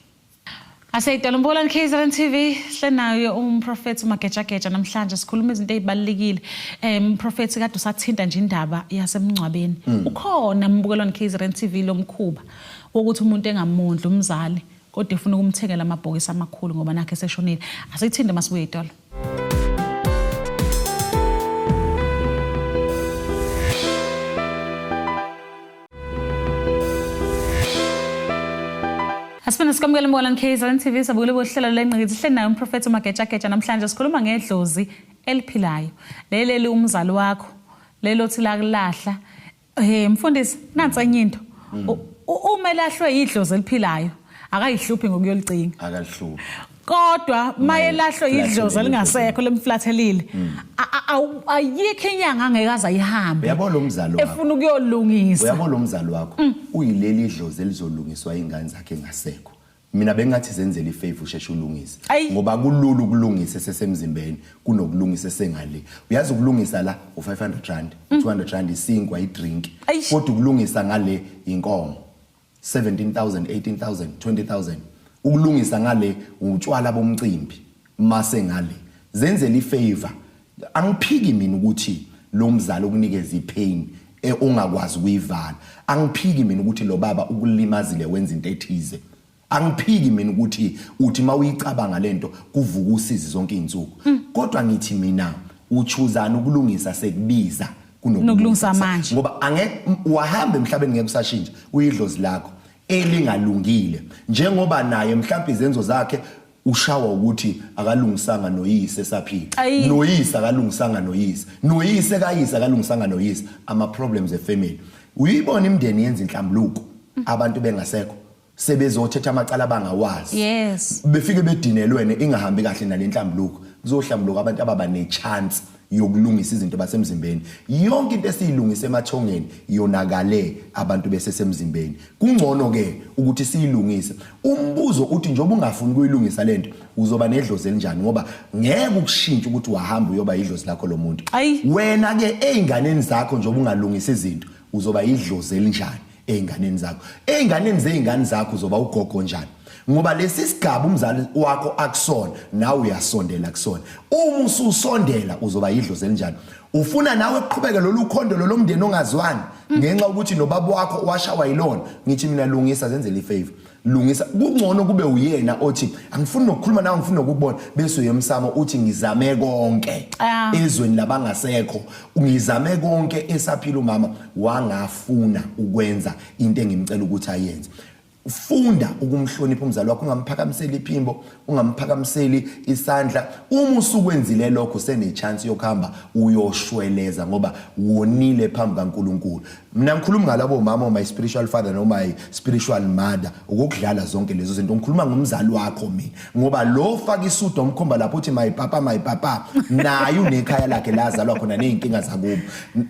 Speaker 2: Aseyidala
Speaker 1: umbulani KZN TV hlenayo umprofethi uMagejageja namhlanje sikhuluma izinto ezibalekile eh umprofethi kade usathinta nje indaba yasemncwabeni hmm. ukhona umbukelwani KZN TV lomkhuba wokuthi umuntu engamondli umzali kodwa efuna ukumthengela amabhokisi amakhulu ngoba nakhe seshonile asithinde masibuye itolo Asifuna sikwamukele mbona KZN TV sabukile bohlelo lengqikithi sihleli naye umprofethi uMagetshagetsha namhlanje sikhuluma ngedlozi eliphilayo leleli umzali wakho lelothi lakulahla Eh mfundisi nansi enye into. Mm. Uma elahlwe idlozi eliphilayo akayihluphi ngokuyolicinga. Akalihluphi.
Speaker 2: Kodwa
Speaker 1: maye lahlwe idlozi elingasekho lemflathelile. Mm. Ayikho inyanga angeke aza ihambe. Uyabo lo mzali wakho. Efuna
Speaker 2: ukuyolungisa.
Speaker 1: Uyabo lo mzali wakho
Speaker 2: mm. uyileli idlozi elizolungiswa ingane zakhe ngasekho. Mina bengathi zenzele ifavor usheshe ulungise Ayi. ngoba kulula ukulungisa esesemzimbeni kunokulungisa esengale. Uyazi ukulungisa la u500 rand, 200 rand isinkwa idrink. Eish. Kodwa ukulungisa ngale inkomo 17000, 18000, 20000. Ukulungisa ngale utshwala bomcimbi. Mase ngale zenzela ifavor angiphiki mina ukuthi lo mzali ukunikeza ipain e, ongakwazi ukuyivala angiphiki mina ukuthi lo baba ukulimazile wenza into ethize angiphiki mina ukuthi uthi mawuyicabanga lento kuvuka usizi zonke izinsuku hmm. kodwa ngithi mina uchuzana ukulungisa sekubiza kunokulungisa
Speaker 1: manje ngoba angeke
Speaker 2: wahamba emhlabeni ngeke usashintsha uyidlozi lakho elingalungile njengoba naye mhlawumbe izenzo zakhe ushawa ukuthi akalungisanga noyise esaphila Ayi. noyise akalungisanga noyise noyise kayise akalungisanga noyise ama problems e family uyibona imndeni yenza inhlambuluko abantu bengasekho sebezothetha amacala abangawazi Yes. befike bedinelwene ingahambi kahle nalenhlambuluko kuzohlambuluka abantu ababa nechance yokulungisa izinto basemzimbeni yonke into esiyilungisa emathongeni yonakale abantu besesemzimbeni kungcono ke ukuthi siyilungise umbuzo uthi njengoba ungafuni kuyilungisa lento uzoba nedlozi elinjani ngoba ngeke ukushintshe ukuthi wahamba uyoba idlozi lakho lomuntu wena ke einganeni zakho njengoba ungalungisa izinto uzoba idlozi elinjani ey'nganeni zakho ey'nganeni zey'ngane zakho uzoba ugogo njani ngoba lesi sigaba umzali wakho akusona nawe uyasondela kusona uma ususondela uzoba yidlozi elinjani ufuna nawe kuqhubeke lolu khondo lolomndeni ongazwani ngenxa ukuthi nobaba wakho washawa yilona ngithi mina lungisa zenzele ifavor lungisa kungcono kube uyena othi angifuni nokukhuluma nawe ngifuna ukukubona bese uyemsamo uthi ngizame konke ah. ezweni labangasekho ngizame konke esaphila umama wangafuna ukwenza into engimcela ukuthi ayenze funda ukumhlonipha umzali wakho ungamphakamisela iphimbo ungamphakamiseli isandla uma usukwenzile lokho senechance yokuhamba uyoshweleza ngoba wonile phambi kaNkuluNkulu mina ngikhuluma ngalabo mama my spiritual father no my spiritual mother ukudlala zonke lezo zinto ngikhuluma ngomzali wakho mina ngoba lo faka isudo omkhomba lapho uthi my papa my papa naye unekhaya lakhe lazalwa khona nezinkinga zakubo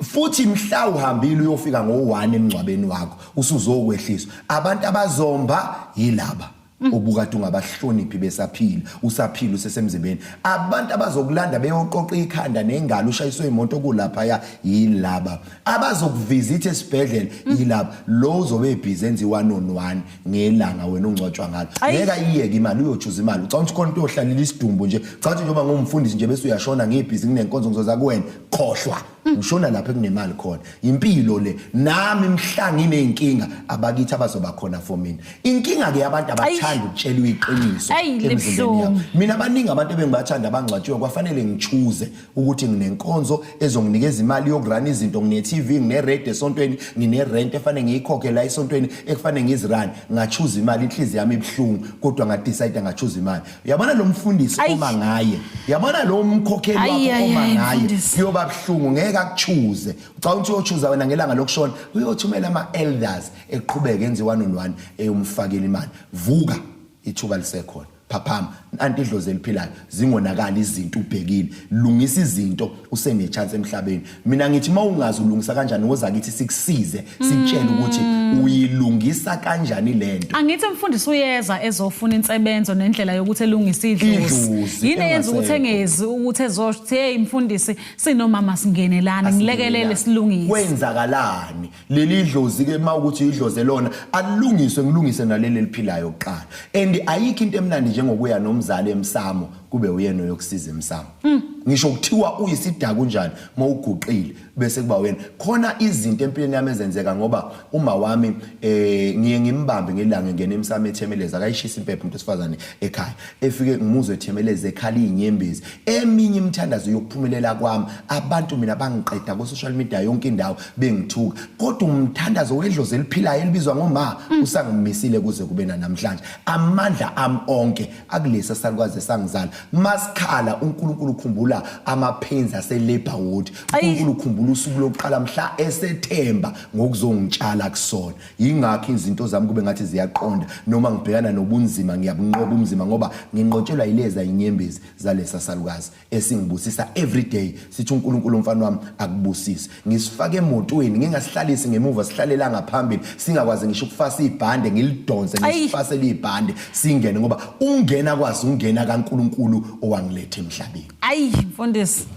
Speaker 2: futhi mhla uhambile uyofika ngo1 emngcwabeni wakho usuzokwehlisa abantu abazomba yilaba Mm. obukade ungabahloniphi besaphila usaphila usesemzimbeni abantu abazokulanda beyoqoqa ikhanda nengalo ushayiswe imoto kulapha ya yilaba abazokuvizitha esibhedlela mm. yilaba lo uzobe ebhizi enza i-one on one ngelanga wena ungcwatshwa ngalo ngeke ayiyeke imali uyochuza imali ucabanga ukuthi khona into yohlalela isidumbu nje ucabanga ukuthi njengoba ngumfundisi nje bese uyashona ngibhizi nginenkonzo ngizoza kuwena khohlwa ngishona lapho ekunemali khona impilo le nami mhla ngineyinkinga abakithi abazoba khona for mina inkinga ke abantu abathanda ukutshelwa iqiniso emzimbeni yami mina abaningi abantu ebengibathanda abangcwatshiwe kwafanele ngichuze ukuthi nginenkonzo ezonginikeza imali yokurana izinto ngine TV ngine rate esontweni ngine rent efanele ngiyikhokhe la esontweni ekufanele ngizirani ngachuza imali inhliziyo yami ibuhlungu kodwa ngadecide ngachuza imali yabona lo mfundisi Ayi. oma ngaye yabona lo mkhokheli Ayi, wakho ayi, oma ayi, ngaye mfundisi. kuyoba buhlungu ngeke akuchuze ucabanga ukuthi uyochuza wena ngelanga lokushona uyothumela ama-elders eqhubeke enze one on one eyomfakela imali vuka ithuba lisekhona phaphama nanti idlozi eliphilayo zingonakali izinto ubhekile lungisa izinto usenechance emhlabeni mina ngithi uma ungazi ulungisa kanjani woza kithi sikusize sitshele ukuthi mm. uyilungisa kanjani lento angithi mfundisi uyeza
Speaker 1: ezofuna insebenzo nendlela yokuthi elungise idlozi yini eyenza ukuthi engezi ukuthi ezothi hey mfundisi sinomama singenelana ngilekelele silungise kwenzakalani
Speaker 2: leli dlozi ke mawukuthi idloze lona alilungiswe ngilungise naleli eliphilayo kuqala and ayikho into emnandi njengokuya nomzali emsamo kube uyena oyokusiza emsamo mm. ngisho kuthiwa uyisidaka unjani mawuguqile bese kuba wena khona izinto empilweni yami ezenzeka ngoba uma wami eh ngiye ngimbambe ngelanga ngene emsamo ethemeleza akayishisa impepho umuntu osifazane ekhaya efike ngimuzwe ethemeleza ekhala inyembezi eminye imithandazo yokuphumelela kwami abantu mina bangiqeda ku social media yonke indawo bengithuka kodwa umthandazo wedlozi eliphilayo elibizwa ngoma mm. usangimisile kuze kube namhlanje amandla am onke akulesa salukwaze sangizala masikhala uNkulunkulu ukhumbula amaphenzi aselabor ward uNkulunkulu ukhumbula usuku lokuqala mhla esethemba ngokuzongitshala kusona yingakho izinto zami kube ngathi ziyaqonda noma ngibhekana nobunzima ngiyabunqoba umzima ngoba nginqotshelwa yileza inyembezi zalesa salukazi esingibusisa every day sithi uNkulunkulu umfana wami akubusise ngisifake emotweni ngingasihlalisi ngemuva sihlalela ngaphambili singakwazi ngisho ukufasa ibhande ngilidonse ngisifase libhande singene ngoba ungena kwazi ungena kaNkulunkulu owangilethe emhlabeni ayi mfundisi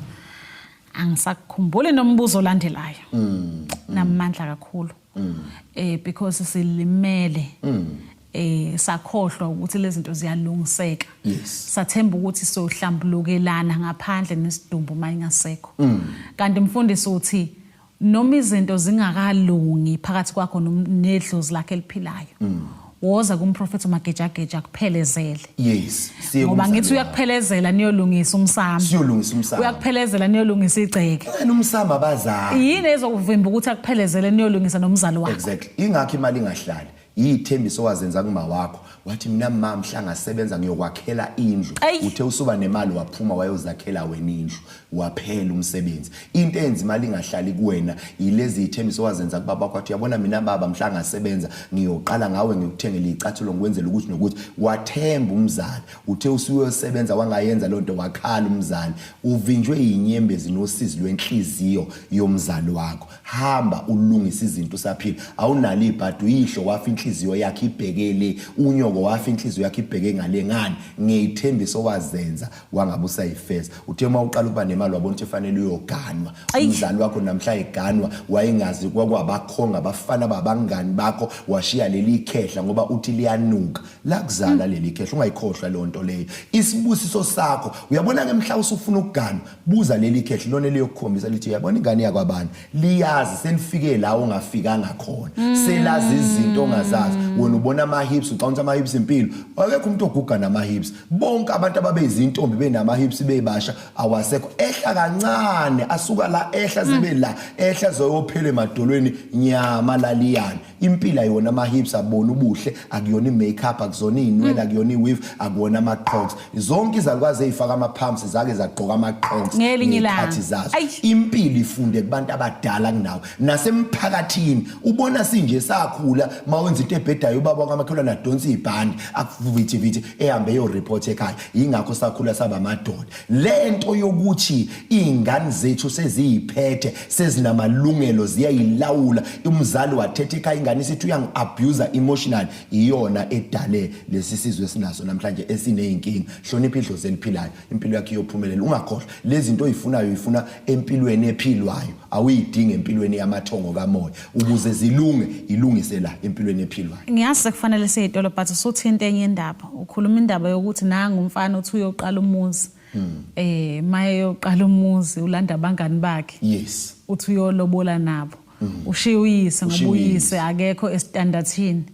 Speaker 1: angisakukhumbuli nombuzo olandelayo mm, mm. namandla kakhulu mm. eh because silimele mm. eh sakhohlwa ukuthi lezi zinto ziyalungiseka yes. sathemba ukuthi sohlambulukelana ngaphandle nesidumbu uma ingasekho mm. kanti mfundisi uthi noma izinto zingakalungi phakathi kwakho nedlozi lakhe eliphilayo mm. woza kumprofethi umagejageja kuphelezele yes ngoba ngithi uyakuphelezela niyolungisa umsamo siyolungisa umsamo
Speaker 2: uyakuphelezela niyolungisa
Speaker 1: igceke wena umsamo
Speaker 2: abazali yini ezokuvimba
Speaker 1: ukuthi akuphelezele niyolungisa nomzali wakho exactly ingakho imali
Speaker 2: ingahlali yithembiso wazenza kuma wakho wathi mina mama mhla ngasebenza ngiyokwakhela indlu uthe usuba nemali waphuma wayozakhela wena indlu Waphela umsebenzi. Into enza imali ingahlali kuwena yilezi ithembiso owazenza kubaba wakho. Uyabona mina baba mhla ngasebenza ngiyoqala ngawe ngikuthengele icathulo ngikwenzela ukuthi nokuthi wathemba umzali. Uthe usuyosebenza wangayenza loo nto wakhala umzali. Uvinjwe yinyembezi nosizi lwenhliziyo yomzali wakho. Hamba ulungise izinto usaphila. Awunalo ibhadi uyihlo wafa inhliziyo yakhe ibheke le. Unyoko wafa inhliziyo yakhe ibheke ngale ngani ngeyithembiso owazenza wangabe usayifeza uthe uma uqala ukuba nemali wabona ukuthi fanele uyoganwa umzali wakho namhla eganwa wayengazi kwakwabakhonga abafana babangani bakho washiya leli khehla ngoba uthi liyanuka lakuzala leli khehla ungayikhohlwa leyo nto leyo isibusiso sakho uyabona ke mhla usufuna ukuganwa buza leli khehla lona liyokukhombisa lithi uyabona ingane yakwabani liyazi selifike la ungafikanga khona mm. selazi izinto ongazazi wena ubona ama hips ucawunta ama hips impilo akekho umuntu oguga nama hips bonke abantu ababeyizintombi benama hips bebasha awasekho ehla kancane asuka la ehla zibe la ehla zoyophele emadolweni nyama laliyana impila yona ama-hips abona ubuhle akuyona i-makeup akuzona iy'nwele mm. akuyona i-weave akuwona ama-crocs zonke izalukwazi ey'faka ama-pumps zake zagqoka ama-crocs Ngelinye ilanga. ngey'khathi zazo Ai. impilo ifunde kubantu abadala kunawo nasemphakathini ubona sinje sakhula uma wenza into ebhedayo ubaba wakamakhelwane adonsa ibhandi akuvithivithi ehambe eyoripotha ekhaya yingakho sakhula saba amadoda le nto yokuthi iy'ngane zethu seziyiphethe sezinamalungelo ziyayilawula umzali wathetha ekhaya ingane isithi uyangi-abuser emotional iyona edale lesi sizwe esinaso namhlanje esiney'nkinga hlonipha idlozi eliphilayo impilo yakhe iyophumelela ungakhohlwa lezi zinto oyifunayo uyifuna empilweni ephilwayo awuyidingi empilweni yamathongo kamoya ukuze zilunge ilungise la empilweni ephilwayo ngiyazi sekufanele
Speaker 1: siyitolo but usuthinte enye indaba ukhuluma indaba yokuthi nangu umfana uthi uyoqala umuzi Hmm. Eh maye yoqala umuzi ulanda abangani bakhe. Yes. Uthi
Speaker 2: uyolobola
Speaker 1: nabo. Hmm. Ushiya uyise ngoba uyise akekho estandardsini.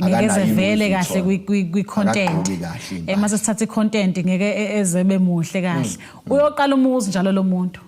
Speaker 1: ngeke vele kahle kwi content eh mase sithatha i content ngeke e, e, ezebe muhle kahle hmm. uyoqala umuzi njalo lo muntu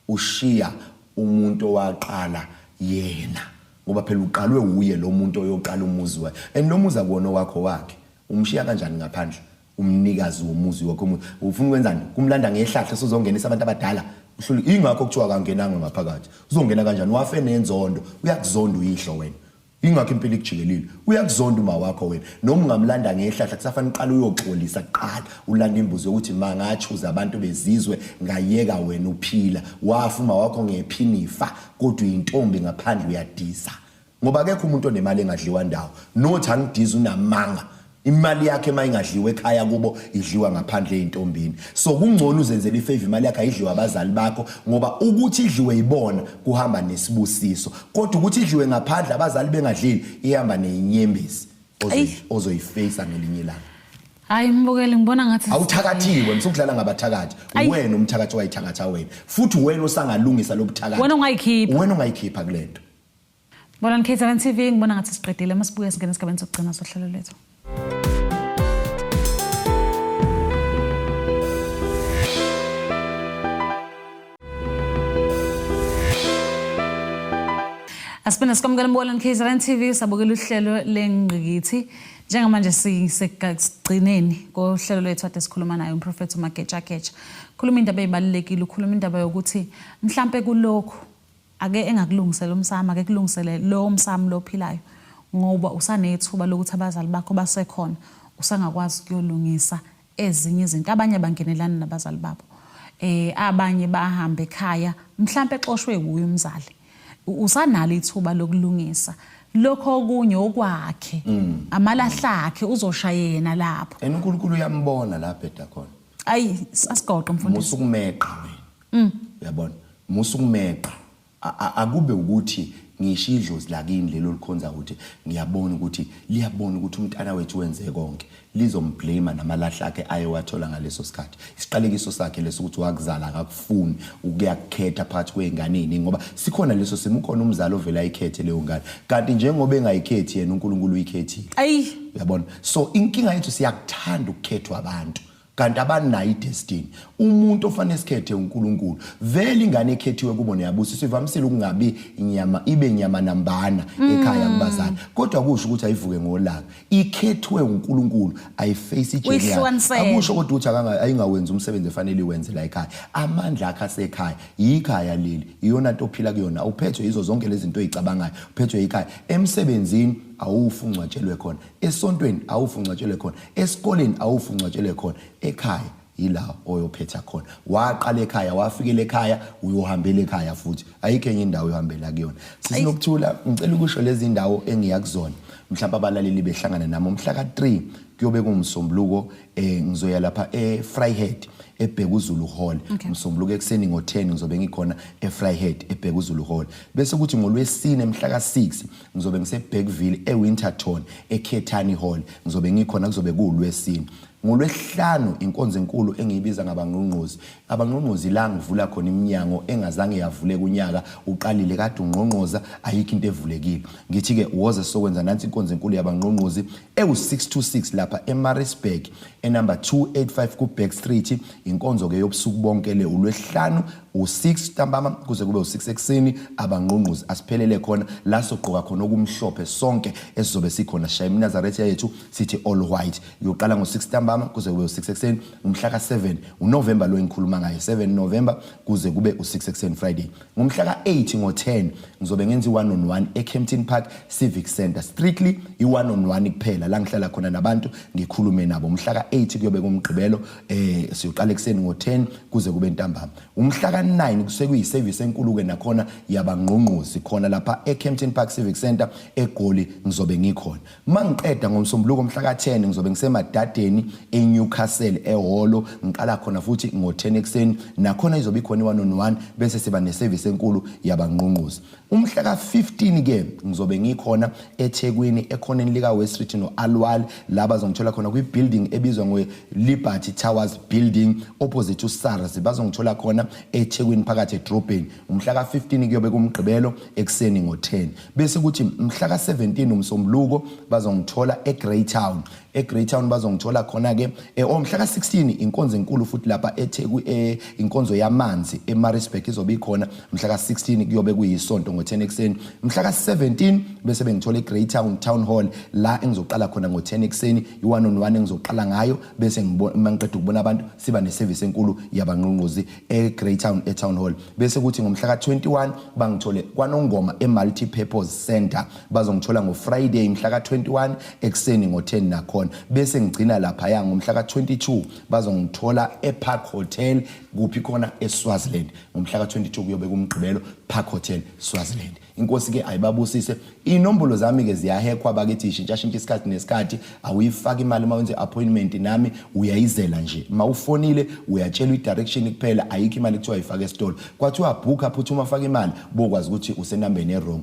Speaker 1: ushiya
Speaker 2: umuntu owaqala yena ngoba phela uqalwe uye lo muntu oyoqala umuzi wakhe and lo muzi akuwona wakho wakhe umshiya kanjani ngaphandle umnikazi womuzi wakho omuzi ufuna ukwenzani kumlanda ngehlahla sozongenisa abantu abadala uhlule ingakho kuthiwa akangenanga ngaphakathi uzongena kanjani wafe nenzondo uyakuzonda uyihlo wena ingakho impilo ikujikelile uyakuzonda uma wakho wena noma ungamlanda ngehlahla kusafanele uqale uyoxolisa kuqala ulanda imbuzi yokuthi ma ngachuza abantu bezizwe ngayeka wena uphila wafa uma wakho ngephinifa kodwa uyintombi ngaphandle uyadisa ngoba akekho umuntu onemali engadliwa ndawo not angidizi unamanga imali yakhe uma ingadliwa ekhaya kubo idliwa ngaphandle ezintombini so kungcono uzenzele ifavor imali yakhe ayidliwa abazali bakho ngoba ukuthi idliwe ibona kuhamba nesibusiso kodwa ukuthi idliwe ngaphandle abazali bengadlili ihamba nezinyembezi ozoyiface ngelinye ilanga hayi mbukeli
Speaker 1: ngibona ngathi awuthakathiwe msukudlala
Speaker 2: ngabathakathi wena umthakathi wayithakatha wena futhi wena osangalungisa lobuthakathi wena ungayikhipha wena ungayikhipha kulento Ngibona
Speaker 1: nikhethelen TV ngibona ngathi siqedile uma sibuye singena esigabeni sokugcina sohlelo lethu. Asibona sikwamukela mbona nikhethelen TV sabukela uhlelo lengqikithi. Njengamanje sisekugcineni kohlelo lwethu ade sikhuluma naye umprofethi uMagetshagetsha. Khuluma indaba ezibalulekile, ukhuluma indaba yokuthi mhlambe kulokho Ake engakulungisela umsamo, ake kulungisele lowo msamo lo ophilayo ngoba usanethuba lokuthi abazali bakho basekhona, usangakwazi ukuyolungisa ezinye izinto. Abanye abangenelani nabazali babo. Eh abanye bahambe ekhaya, mhlambe exoshwe wuye umzali. Usanalo ithuba lokulungisa. lokho okunye okwakhe mm. amalahla akhe uzosha yena lapho and uNkulunkulu uyambona
Speaker 2: la bheda khona ayi
Speaker 1: asigoqe mfundisi musukumeqa wena
Speaker 2: Mm. Uyabona? Musa ukumeqa. Akube ukuthi ngisho idlozi lakini lelo likhonza ukuthi ngiyabona ukuthi liyabona ukuthi umntana wethu wenze konke lizomblame namalahla akhe aye wathola ngaleso sikhathi isiqalekiso sakhe leso ukuthi wakuzala akakufuni ukuyakukhetha phakathi kwezingane eziningi ngoba sikhona leso simo ukhona umzali ovela ayikhethe leyo ngane kanti njengoba engayikhethi yena uNkulunkulu uyikhethile ayi uyabona so inkinga yethu siyakuthanda ukukhethwa abantu kanti abanayo idestiny umuntu ofanele sikhethe uNkulunkulu vele ingane ekhethiwe kubo neyabusiswa ivamisile ukungabi inyama ibe nyama nambana mm. ekhaya kubazali kodwa kusho ukuthi ayivuke ngolaka ikhethwe uNkulunkulu ayiface ijele akusho kodwa ukuthi akanga ayingawenzi umsebenzi efanele iwenze la ekhaya amandla akhe asekhaya yikhaya leli iyona nto ophila kuyona uphethwe yizo zonke lezi zinto ezicabangayo uphethwe yikhaya emsebenzini awufu ungcwatshelwe khona esontweni awufu ungcwatshelwe khona esikoleni awufu ungcwatshelwe khona ekhaya yila oyophetha khona waqala ekhaya wafikele ekhaya uyohambela ekhaya futhi ayikho enye indawo yohambela kuyona sisinokuthula ngicela ukusho lezi ndawo engiya kuzona mhlawumbe abalaleli behlangana nami umhla ka-3 kuyobe kungumsombuluko um eh, ngizoya lapha e-fryhead ebheka uzulu hall okay. msombuluko ekuseni ngo-10 ngizobe ngikhona e-fryhead ebheka uzulu hall bese kuthi ngolwesine mhla ka-6 ngizobe ngiseBergville eWinterton eKhethani Hall ngizobe ngikhona kuzobe kuwulwesini ngolwesihlanu inkonzo enkulu engiyibiza ngabangqongqozi abangqongqozi la ngivula khona iminyango engazange yavuleka unyaka uqalile kade ungqongqoza ayikho into evulekile ngithi-ke woze sokwenza nansi inkonzo enkulu yabangqongqozi ewu-626 lapha emarisburg enumber 285 kuback street inkonzo-ke yobusuku bonke le ulwesihlanu u-6 ntambama kuze kube u-6 ekuseni abangqungquzi asiphelele khona la sogqoka khona okumhlophe sonke esizobe sikhona shaya iminazaretha yethu sithi all white yoqala ngo-6 ntambama kuze kube u-6 ekuseni ngomhla ka-7 unovemba lo engikhuluma ngayo 7 novemba kuze kube u-6 ekuseni friday ngomhla ka-8 ngo-10 ngizobe ngenza i-one on one ecampton park civic center strictly i-one on one kuphela la ngihlala khona nabantu ngikhulume nabo mhla ka-8 kuyobe kumgqibelo eh siyoqala ekseni ngo10 kuze kube ntambama umhla ka9 kusekuyi service enkulu ke nakhona yabangqongqozi khona lapha eCampton Park Civic Center eGoli ngizobe ngikhona mangiqeda ngomsombuluko umhla ka10 ngizobe ngisemadadeni eNewcastle eholo ngiqala khona futhi ngo10 ekseni nakhona izobe ikhona one on one bese siba neservice enkulu yabangqongqozi Umhla ka-15 ke ngizobe ngikhona eThekwini ekhoneni lika West Street no-Alwal la bazongithola khona kwi-building ebizwa nge-Liberty Towers Building opposite uSARS bazongithola khona eThekwini phakathi edrobheni umhla ka-15 kuyobe kumgqibelo ekuseni ngo-10 bese kuthi mhla ka-17 umsombuluko bazongithola eGreytown eGreytown bazongithola khona ke eh, omhla ka16 inkonzo enkulu futhi lapha eTheku eh, inkonzo yamanzi eMaritzburg izobe ikhona mhla ka16 kuyobe kuyisonto ngo10 ekseni mhla ka17 bese bengithola eGreytown Town Hall la engizoqala khona ngo10 ekseni ione on one engizoqala ngayo bese ngibona ngiqeda ukubona abantu siba neservice enkulu yabanqunquzi eGreytown eTown Hall bese kuthi ngomhla ka21 bangithole kwanongoma eMulti Purpose Center bazongithola ngofriday mhla ka-21 ekuseni ngo-10 nakhona bese ngigcina laphaya ngomhla ka-22 bazongithola epark hotel kuphi khona eswaziland ngomhla ka-22 kuyobe kumgqibelo park hotel swaziland inkosi-ke ayibabusise iy'nombolo zami-ke ziyahekhwa bakithi ishintshashintsha isikhathi nesikhathi awuyifaki imali uma wenze i-appointment nami uyayizela nje uma ufonile uyatshelwa i-direction kuphela ayikho imali kuthiwa yifaka esitolo kwathiwa bhukha phutha uma faka imali bokwazi ukuthi usenambeni e-wrong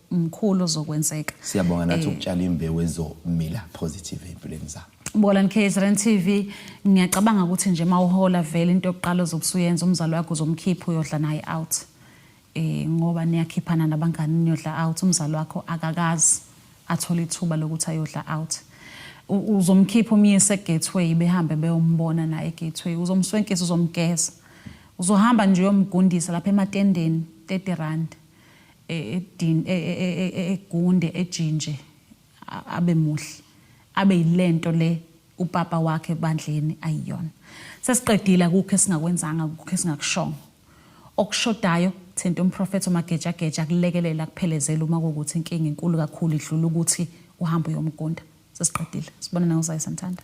Speaker 1: mkhulu ozokwenzeka siyabonga nathi eh, ukutshala
Speaker 2: imbewu ezomila positive empilweni zabo Bolan KZN
Speaker 1: TV ngiyacabanga ukuthi nje mawuhola vele into yokuqala ozobusuyenza umzali wakho uzomkhipha uyodla naye out eh ngoba niyakhiphana nabangani niyodla out umzali wakho akakazi athole ithuba lokuthi ayodla out uzomkhipha umyise gateway behambe beyombona naye gateway uzomswenkisa uzomgeza uzohamba nje uyomgundisa lapha ematendeni 30 rand egunde ejinje abe muhle abe yilento le upapa wakhe ebandleni ayiyona sesiqedile akukho esingakwenzanga akukho esingakushongo okushodayo thinta umprofethi omagejageja akulekelela kuphelezela uma kuwukuthi inkinga inkulu kakhulu idlula ukuthi uhambe uyomgunda sesiqedile sibonana ngozayo santhanda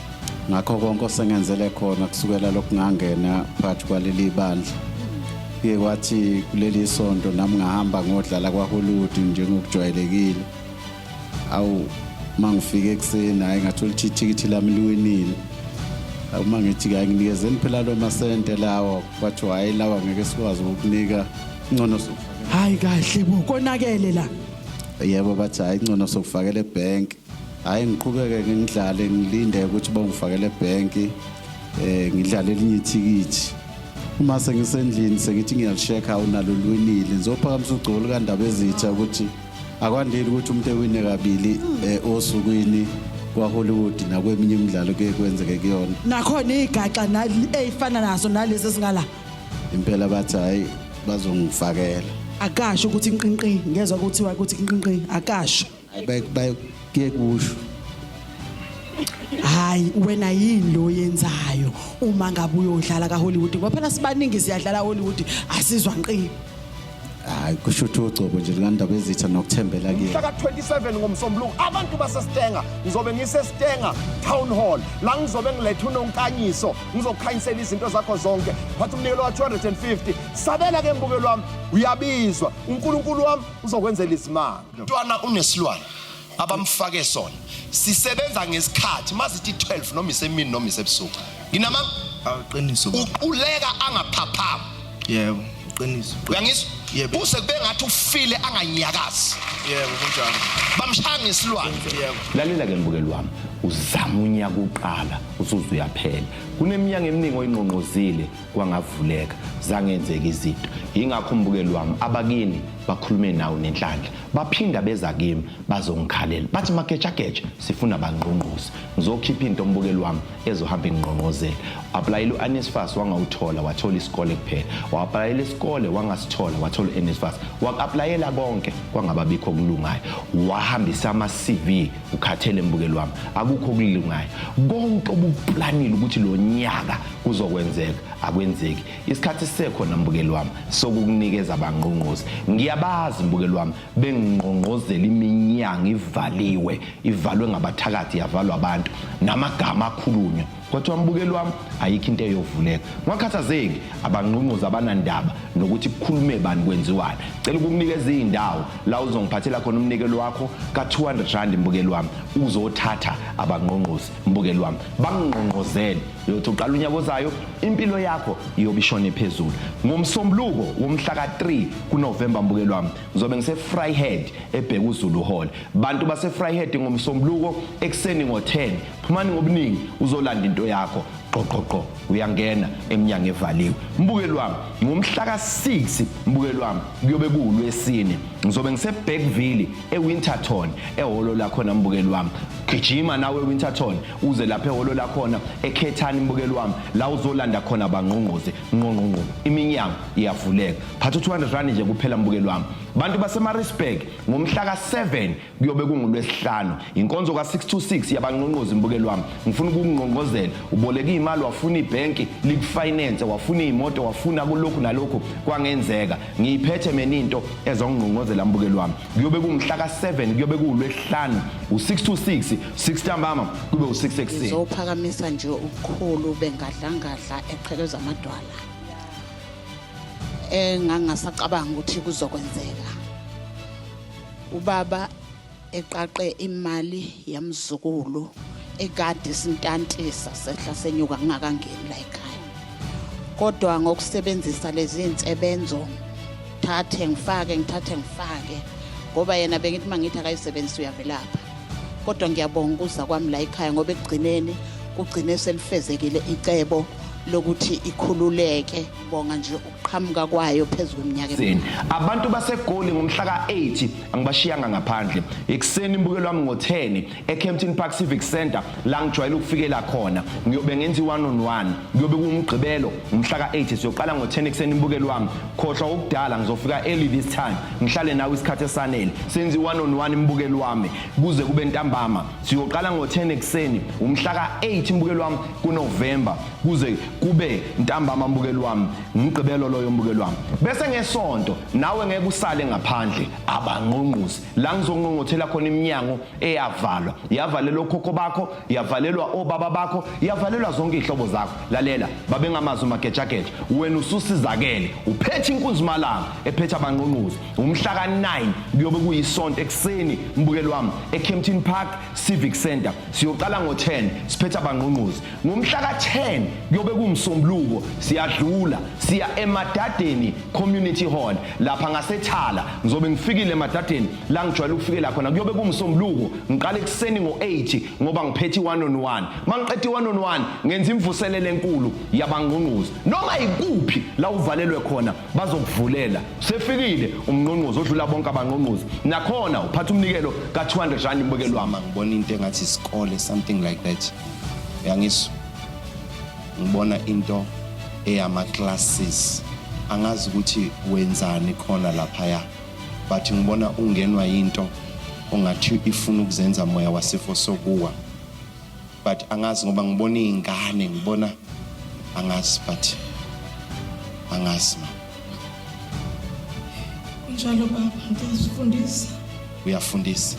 Speaker 3: ngakho konke osengenzele khona kusukela lokhu ngangena phakathi kwaleli bandla kuye kwathi kuleli sonto nami ngahamba ngodlala kwahollywood njengokujwayelekile awu uma ngifike ekuseni hhayi ngathola ukuthi ithikithi lami liwinile uma ngithi kayi nginikezeni phela lo masente lawa kwathiwa hhayi lawa ngeke sikwazi ukukunika ngcono sokufakela hhayi kahle
Speaker 4: bo konakele la yebo bathi
Speaker 3: hhayi ngcono sokufakela ebhenki Hhayi ngiqhubeke ngidlale ngilinde ukuthi bangifakele ebhenki um ngidlale elinye ithikithi uma sengisendlini sengithi ngiyalishekha unalo lwinile ngizophakamisa ugcobo lukandaba ezitha ukuthi akwandile ukuthi umuntu ewine kabili um osukwini kwahollywood nakweminye imidlalo
Speaker 4: kuye kwenzeke kuyona
Speaker 3: nakhona
Speaker 4: igaxa eyifana naso
Speaker 3: nalezi
Speaker 4: ezingala
Speaker 3: impela bathi hhayi bazongifakela akasho
Speaker 4: ukuthi nqinqi ngezwa kuthiwa ukuthi nqinqi akasho kuye
Speaker 3: kusho
Speaker 4: hayi wena yini lo yenzayo uma ngabe uyodlala kaHollywood ngoba phela sibaningi siyadlala Hollywood asizwa nqini hayi
Speaker 3: kusho ukuthi ugcobo nje likandaba ezitha nokuthembela kuyena mhla ka-27
Speaker 5: ngomsombuluko abantu basestenga ngizobe ngisestenga town hall la ngizobe ngiletha unonkanyiso ngizokhanyisela izinto zakho zonke phatha umnikelo wa-250 sabela ke mbukelo wami uyabizwa unkulunkulu wami uzokwenzela izimanga mntwana unesilwane abamfake sona sisebenza ngesikhathi mazithi 12 noma isemini noma isebusuku nginama awuqiniso
Speaker 6: uquleka
Speaker 5: angaphaphama yebo uqiniso
Speaker 6: uyangizwa yebo
Speaker 5: use kube ngathi
Speaker 6: ufile
Speaker 5: anganyakazi yebo
Speaker 6: kunjalo bamshaya ngesilwane
Speaker 5: yebo lalela ke
Speaker 6: mbukeli wami
Speaker 2: uzama unyaka uqala usuze uyaphela kuneminyaka eminingi oyinqonqozile kwangavuleka zangenzeka izinto yingakho umbukeli wami abakini bakhulume nawo nenhlanhla baphinda beza kimi bazongikhalela bathi magejageja sifuna bangqongqoze ngizokhipha into ombukeli wami ezohamba ingqongqozela aplayela u-anisfas wangawuthola wathola isikole kuphela wa-aplayela isikole wangasithola wathola u-anisfas wa-aplayela konke kwangababikho okulungayo wahambisa ama-cv ukhathele mbukeli wami akukho okulungayo konke obuplanile ukuthi lo nyaka kuzokwenzeka akwenzeki isikhathi sisekhona mbukeli wami sokukunikeza abangqongqozi ngiyabazi mbukeli wami bengingqongqozela iminyango ivaliwe ivalwe ngabathakathi yavalwa abantu namagama akhulunywa kwathiwa mbukeli wami ayikho into eyovuleka ngakhathazeki abanqunquza abanandaba nokuthi kukhulume bani kwenziwani cela ukukunika ezindawo la uzongiphathela khona umnikelo wakho ka200 rand mbukeli wami uzothatha abanqonqozi mbukeli wami bangqonqozele yothi uqala unyaka ozayo impilo yakho iyobishone phezulu ngomsombuluko womhla ka3 kuNovember mbukeli wami ngizobe ngise Fryhead ebheka uZulu Hall bantu base Fryhead ngomsombuluko ekseni ngo10 phumani ngobuningi uzolanda into yakho qoqoqo uyangena emnyango evaliwe mbukeli wami ngomhla ka-6 mbukeli wami kuyobe kuwulwesine ngizobe ngisebackville ewinterton ehholo lakhona mbukeli wami gijima nawe ewinterton uze lapha ehholo lakhona ekhethani mbukeli wami la uzolanda khona bangqongqoze nqonqonqo iminyango iyavuleka phatha u-200 rand nje kuphela mbukeli wami bantu basemarisburg ngomhla ka-7 kuyobe kungulwesihlanu inkonzo ka-626 yabanqonqozi mbukeli wami ngifuna ukukungqongqozela uboleka iy'mali wafuna ibhenki likufinance wafuna iy'moto wafuna kulokhu nalokhu kwangenzeka ngiyiphethe mina into ezongqongqozela mbukeli wami kuyobe kungumhla ka-7 kuyobe kuwulwesihlanu u-626 6 ntambama kube u-6 ekuseni zophakamisa nje
Speaker 7: ubukhulu bengadlangadla eqhekeza amadwala engangasacabanga ukuthi kuzokwenzeka ubaba eqaqe imali yamzukulu ekade sintantisa sehla senyuka ngingakangeni la ekhaya kodwa ngokusebenzisa lezi zinsebenzo ngithathe ngifake ngithathe ngifake ngoba yena bengithi mangithi akayisebenzisa uyavelapha kodwa ngiyabonga ukuza kwami la ekhaya ngoba ekugcineni kugcine selifezekile icebo lokuthi ikhululeke bonga nje qhamuka kwayo phezu kweminyaka emine. Abantu
Speaker 2: baseGoli ngomhla ka-8 angibashiyanga ngaphandle. Ekuseni imbukelo wami ngo-10 eKempton Park Civic Centre la ngijwayele ukufikela khona. Ngiyobe ngenza i-one on one. Kuyobe kuwumgqibelo ngomhla ka-8 siyoqala ngo-10 ekuseni imbukelo wami. Khohlwa ukudala ngizofika early this time. Ngihlale nawe isikhathi esanele. Senza i-one on one imbukelo wami kuze kube ntambama. Siyoqala ngo-10 ekuseni umhla ka-8 imbukelo wami kuNovember. kuze kube ntambama mbukeli wami ngumgqibelo loyo mbukeli wami bese ngesonto nawe ngeke usale ngaphandle abangqongqozi la ngizonqongothela khona iminyango eyavalwa yavalelwa okhokho bakho yavalelwa obaba bakho yavalelwa zonke izihlobo zakho lalela babengamazi umagejageja wena ususizakele uphethe inkunzimalanga ephethe abangqongqozi umhla ka-9 kuyobe kuyisonto ekuseni mbukeli wami ecampton park civic center siyoqala ngo-10 siphethe abangqongqozi Ngomhla ka-10 kuyobe kungusombuluko siyadlula siya emadadeni community hall lapha ngasethala ngizobe ngifikile emadadeni la ngijwayele ukufikela khona kuyobe kungusombuluko ngiqale ekuseni ngo-8 ngoba ngiphethe i-one on one uma ngiqeda i-one on one ngenza imvuselelo enkulu yabangqongqozi noma yikuphi la uvalelwe khona bazokuvulela sefikile umngqongqozi odlula bonke abangqongqozi nakhona uphatha umnikelo ka-200 rand ibukelwama ngibona into engathi
Speaker 8: isikole something like that yangizwa ngibona into eyama classes angazi ukuthi wenzani khona lapha ya but ngibona ungenwa into ongathi ifuna ukuzenza moya wasifo sokuwa but angazi ngoba ngibona izingane ngibona angazi but angazi ma
Speaker 9: Njalo baba ngiyazifundisa.
Speaker 5: Uyafundisa.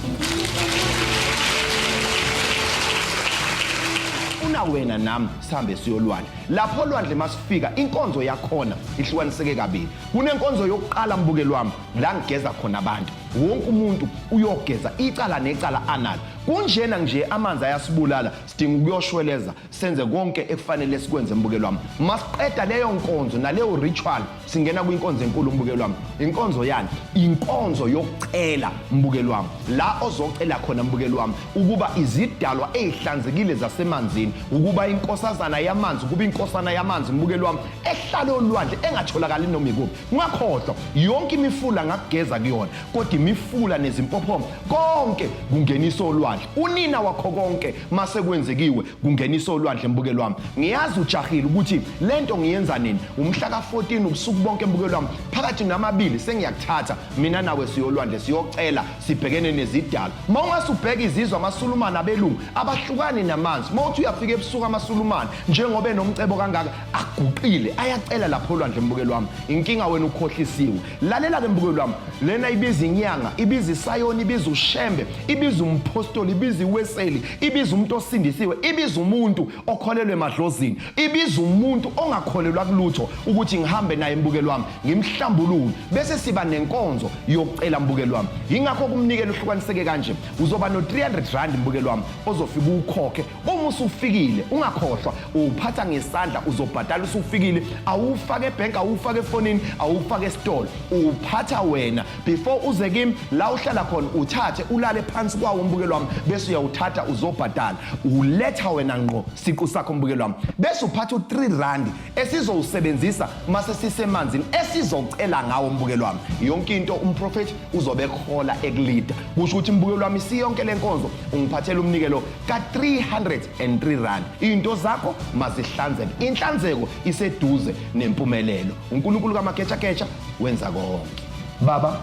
Speaker 5: Una wena nami sihambe siyolwandle. Lapho olwandle masifika inkonzo yakhona ihlukaniseke kabili. Kunenkonzo yokuqala mbukeli wami la ngigeza khona abantu. Wonke umuntu uyogeza icala necala analo. Kunjena nje amanzi ayasibulala sidinga ukuyoshweleza senze konke ekufanele sikwenze mbukelo wami masiqeda leyo nkonzo naleyo ritual singena kwinkonzo enkulu mbukelo wami inkonzo yani inkonzo yokucela mbukelo wami la ozocela khona mbukelo wami ukuba izidalwa ezihlanzekile zasemanzini ukuba inkosazana yamanzi kuba inkosana yamanzi mbukelo wami ehlale olwandle engatholakali noma ikuphi ngakhohlwa yonke imifula ngakugeza kuyona kodwa imifula nezimpophomo konke kungenisa olwandle unina wakho konke mase kwenzekiwe kungenisa olwandle mbukelo wami ngiyazi ujahile ukuthi lento ngiyenza nini umhla ka14 ubusuku bonke mbukelo wami phakathi namabili sengiyakuthatha mina nawe siyolwandle siyocela sibhekene nezidala mawungase ubheke izizwe amasulumane abelungu abahlukani namanzi mawuthi uyafika ebusuku amasulumane njengoba enomcebo kangaka aguqile ayacela lapho olwandle mbukelo wami inkinga wena ukhohlisiwe lalela ke mbukeli wami lena ibiza inyanga ibiza isayoni ibiza ushembe ibiza umphostoli ibiza iweseli ibiza umuntu osindisiwe ibiza umuntu okholelwe emadlozini ibiza umuntu ongakholelwa kulutho ukuthi ngihambe naye mbukeli wami ngimhlambulule bese siba nenkonzo yokucela mbukeli wami yingakho kumnikela uhlukaniseke kanje uzoba no-300 rand mbukeli wami ozofika ukhokhe Uma usufikile ungakhohlwa uphatha ngesandla uzobhadala usufikile awufake ebhenki awufake efonini awufake esitolo uphatha wena before uze kimi la uhlala khona uthathe ulale phansi kwawo umbukelo wami bese uyawuthatha uzobhadala uletha wena ngqo siqu sakho umbukelo wami bese uphatha u3 rand esizowusebenzisa mase sisemanzini esizocela ngawo umbukelo wami yonke into umprofeti uzobe ekhola ekulida kusho ukuthi umbukelo wami siyonke lenkonzo ungiphathela umnikelo ka-303 rand into zakho mazihlanzeke inhlanzeko iseduze nempumelelo unkulunkulu kamaketshaketsha wenza konke baba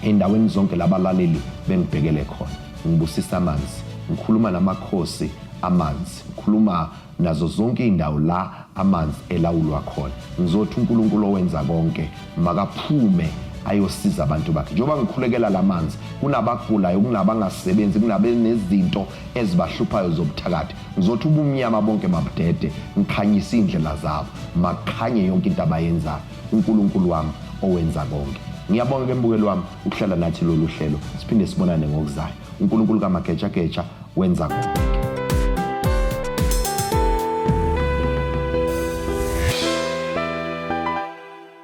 Speaker 2: endaweni zonke labalaleli bengibhekele khona ngibusisa amanzi ngikhuluma namakhosi amanzi ngikhuluma nazo zonke izindawo la amanzi elawulwa khona ngizothi uNkulunkulu owenza konke makaphume ayosiza abantu bakhe njengoba ngikhulekela lamanzi kunabagulayo kunabangasebenzi kunabenezinto ezibahluphayo zobuthakathi ngizothi ubumnyama bonke mabudede ngikhanyise indlela zabo makhanye yonke into abayenzayo uNkulunkulu wami owenza konke ngiyabonga ke mbukeli wami ukuhlala nathi lolu hlelo siphinde sibonane ngokuzayo uNkulunkulu kamagejageja wenza konke.